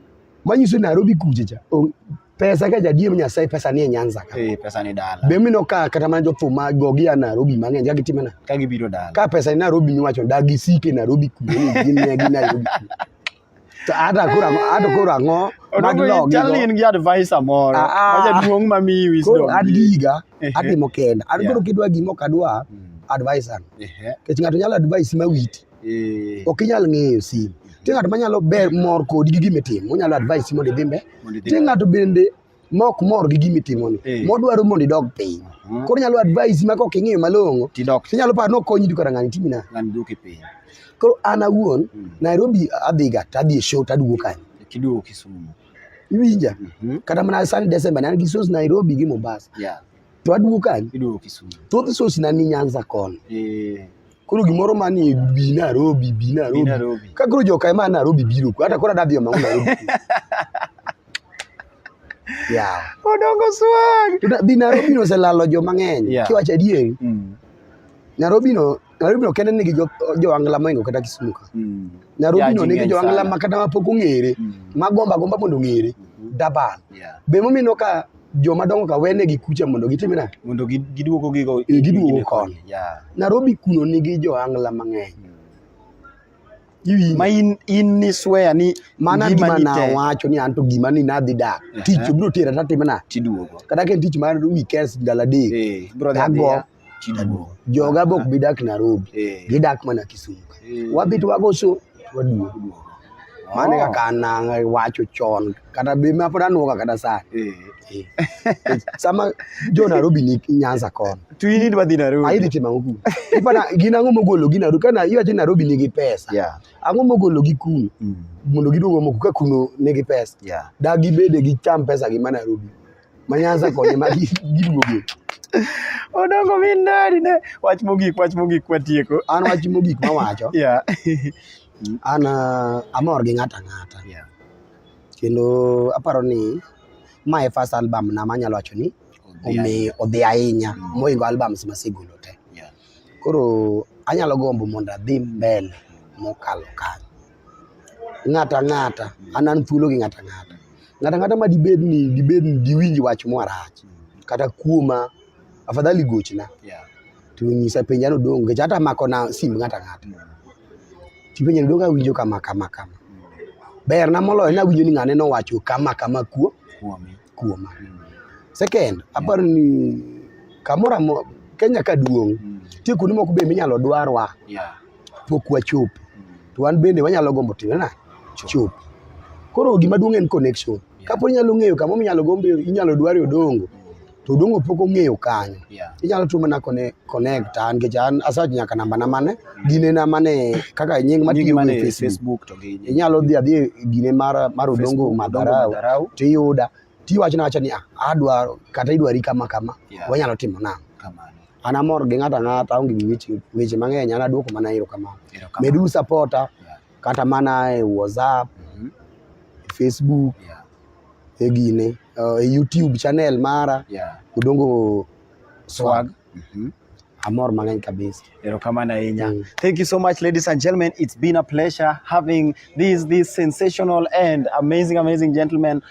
Manyiso ni Nairobi kuche cha. on- pesa ka jadier nyasaye pesa ni e nyanza ka eh pesa ni dala be mino ka kata mana jo thum ma gogi a Nairobi mang'eny ka gitime na ka gibiro dala ka pesa ni Nairobi ni wacho dagi sike Nairobi kuwe ni gin ne gi Nairobi to hata kura hata kura ngo mag logi chal in gi advisor moro ah, ah. ma jaduong' ma mi wisdom ko adiga atimo kenda an koro kidwa gimo kadwa hmm. advisor kech ng'ato nyalo advice ma witi Eh. Ok inyal ng'eyo sim. Nitie ng'at manyalo ber mor kodi gi gima itimo, onyalo advise mondo idhi mbele. Nitie ng'ato bende ma ok mor gi gima itimoni, eh. modwaro mondo idog piny. Uh-huh. Koro nyalo advise ma kok ing'eyo malong'o, tinyalo paro ni okonyi duka ng'ani timi na. Ng'ani duoke piny. Koro an awuon, hmm. Nairobi adhiga, to adhi e show, to aduogo kanyo. Kiduogo Kisumu. Iwinja? Mm-hmm. Kata mana sani Desemba, ne an gi shows Nairobi gi Mombasa. to aduogo kanye? Iduogo Kisumu. Thoth source na ni Nyanza koni. Eh. Koro gimoro ma ni bi Nairobi, bi Nairobi. Bi Nairobi. Ka koro joka ema Nairobi biro ku. Hata koro adadhi omang'o Nairobi. Yeah. Odongo swag. Bi Nairobi no oselalo joma ng'eny. Yeah. Kiwacho adieri. Mm. Nairobi no Nairobi ok en nigi joangla jo moingo kata Kisumu ka. Mm. Nairobi no nigi joangla ma kata mapok ong'ere mm. ma gomba gomba mondo ong'ere mm-hmm. dabal. Yeah. Be momino ka joma dongo ka wene gi kucha mondo gitim na mondo giduogo gigo e, giduogo kon. Yeah. Nairobi kuno nigi joangla mang'eny. Mm. ma in in ni swear ni mana gima na wacho ni anto gima ni nadhi dak tich bro tira tatimna tiduogo kata ke tich mar weekends ndala dek hey, eh, bro shida duong. Joga bok bi dak Nairobi. Eh. Gidak mana Kisumu. Eh. Wabi to wago so waduogo duogo. Mane oh. kaka nang wacho chon kata be ma pod anuoga kata saa. Eh. eh. Sama jo Nairobi ni Nyanza kon. Tu ini dwa dhi Nairobi. Ayi timo ango kuno. Ipana gina ango mogolo gi Nairobi kana iwacho Nairobi nigi pesa. Yeah. Ango mogolo gi kuno. Mm. Mondo giduogo moko ka kuno nigi pesa. Yeah. Da gibede gi cham pesa gi ma Nairobi. Manyanza konye ma giduoge. Odongo mi ndari ne. Wach mogik, wach mogik kwa tieko. An wach mogik ma wacho. Yeah. An uh, amor gi ng'ata ng'ata. Yeah. Kendo aparo ni ma e first album na manyalo wacho ni omi odhi ahinya mm. moingo albums masegolo te. Yeah. Koro anyalo gombo mondo adhi mbele mokalo kanyo. ng'ato ang'ata an an thuolo gi ng'ato ang'ata ng'ato ang'ata ma dibed ni dibed ni diwinj wach mwarach kata kuoma afadhali gochna yeah. to nyisa penja no dong nikech hata mako na sim ng'ato ang'ata tipenja ni dong awinjo kama kama kama ber na moloyo ni awinjo ni ng'ane nowacho kama kama kuo kuoma mm. second aparo ni kamoro amora Kenya ka duong' mm. tie kuonde moko be minyalo dwarwa yeah. pok wachop to wan bende wanyalo gombo time na chop koro gima duong' en connection kapo inyalo ng'eyo kama inyalo gombe inyalo dware odongo to odongo pok ong'eyo kanyo Yeah. inyalo tu mana connect, connect an nikech an asach nyaka namba na mane gine na mane kaka nying Nyingi matiyo mane e e Facebook Facebook to gi inyalo dhi adhi e gine mar mar odongo Facebook, Odongo madharau Madharau. tiyuda tiwacho na wacha ni ah, adwaro kata idwari kama kama Yeah. wanyalo timo nang'o kamano. an amor gi ng'ato ang'ata aonge gi weche weche mang'eny an aduoko mana erokamano Erokamano. meduru sapota Yeah. kata mana e whatsapp Mhm. e facebook Yeah. e gine uh, e youtube channel mara Yeah. odongo Swag. Mhm. amor mang'eny kabisa Erokamano ahinya. Mm. Thank you so much, ladies and gentlemen. It's been a pleasure having these these sensational and amazing, amazing gentlemen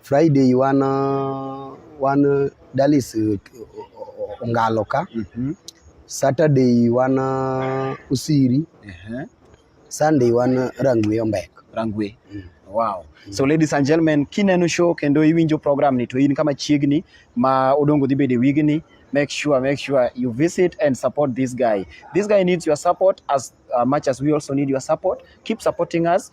Friday wan wan Dallas eh, Ongalo ka. Mm -hmm. Saturday wan Usiri. Uh -huh. Sunday wan Rangwe Ombek. Rangwe. Mm. Wow. Mm. So ladies and gentlemen, kineno show kendo iwinjo program ni to in kama chiegni ma odongo dhi bede wigni make sure make sure you visit and support this guy this guy needs your support as uh, much as we also need your support keep supporting us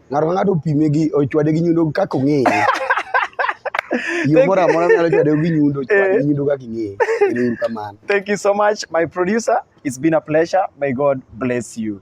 ng'ato ka ng'ato opime gi ochwade gi nyundo kaka ong'eye yo moro amora nyalo chwade gi nyundo chwade gi nyundo kaka ing'eye ero uru kamano thank you so much my producer it's been a pleasure may god bless you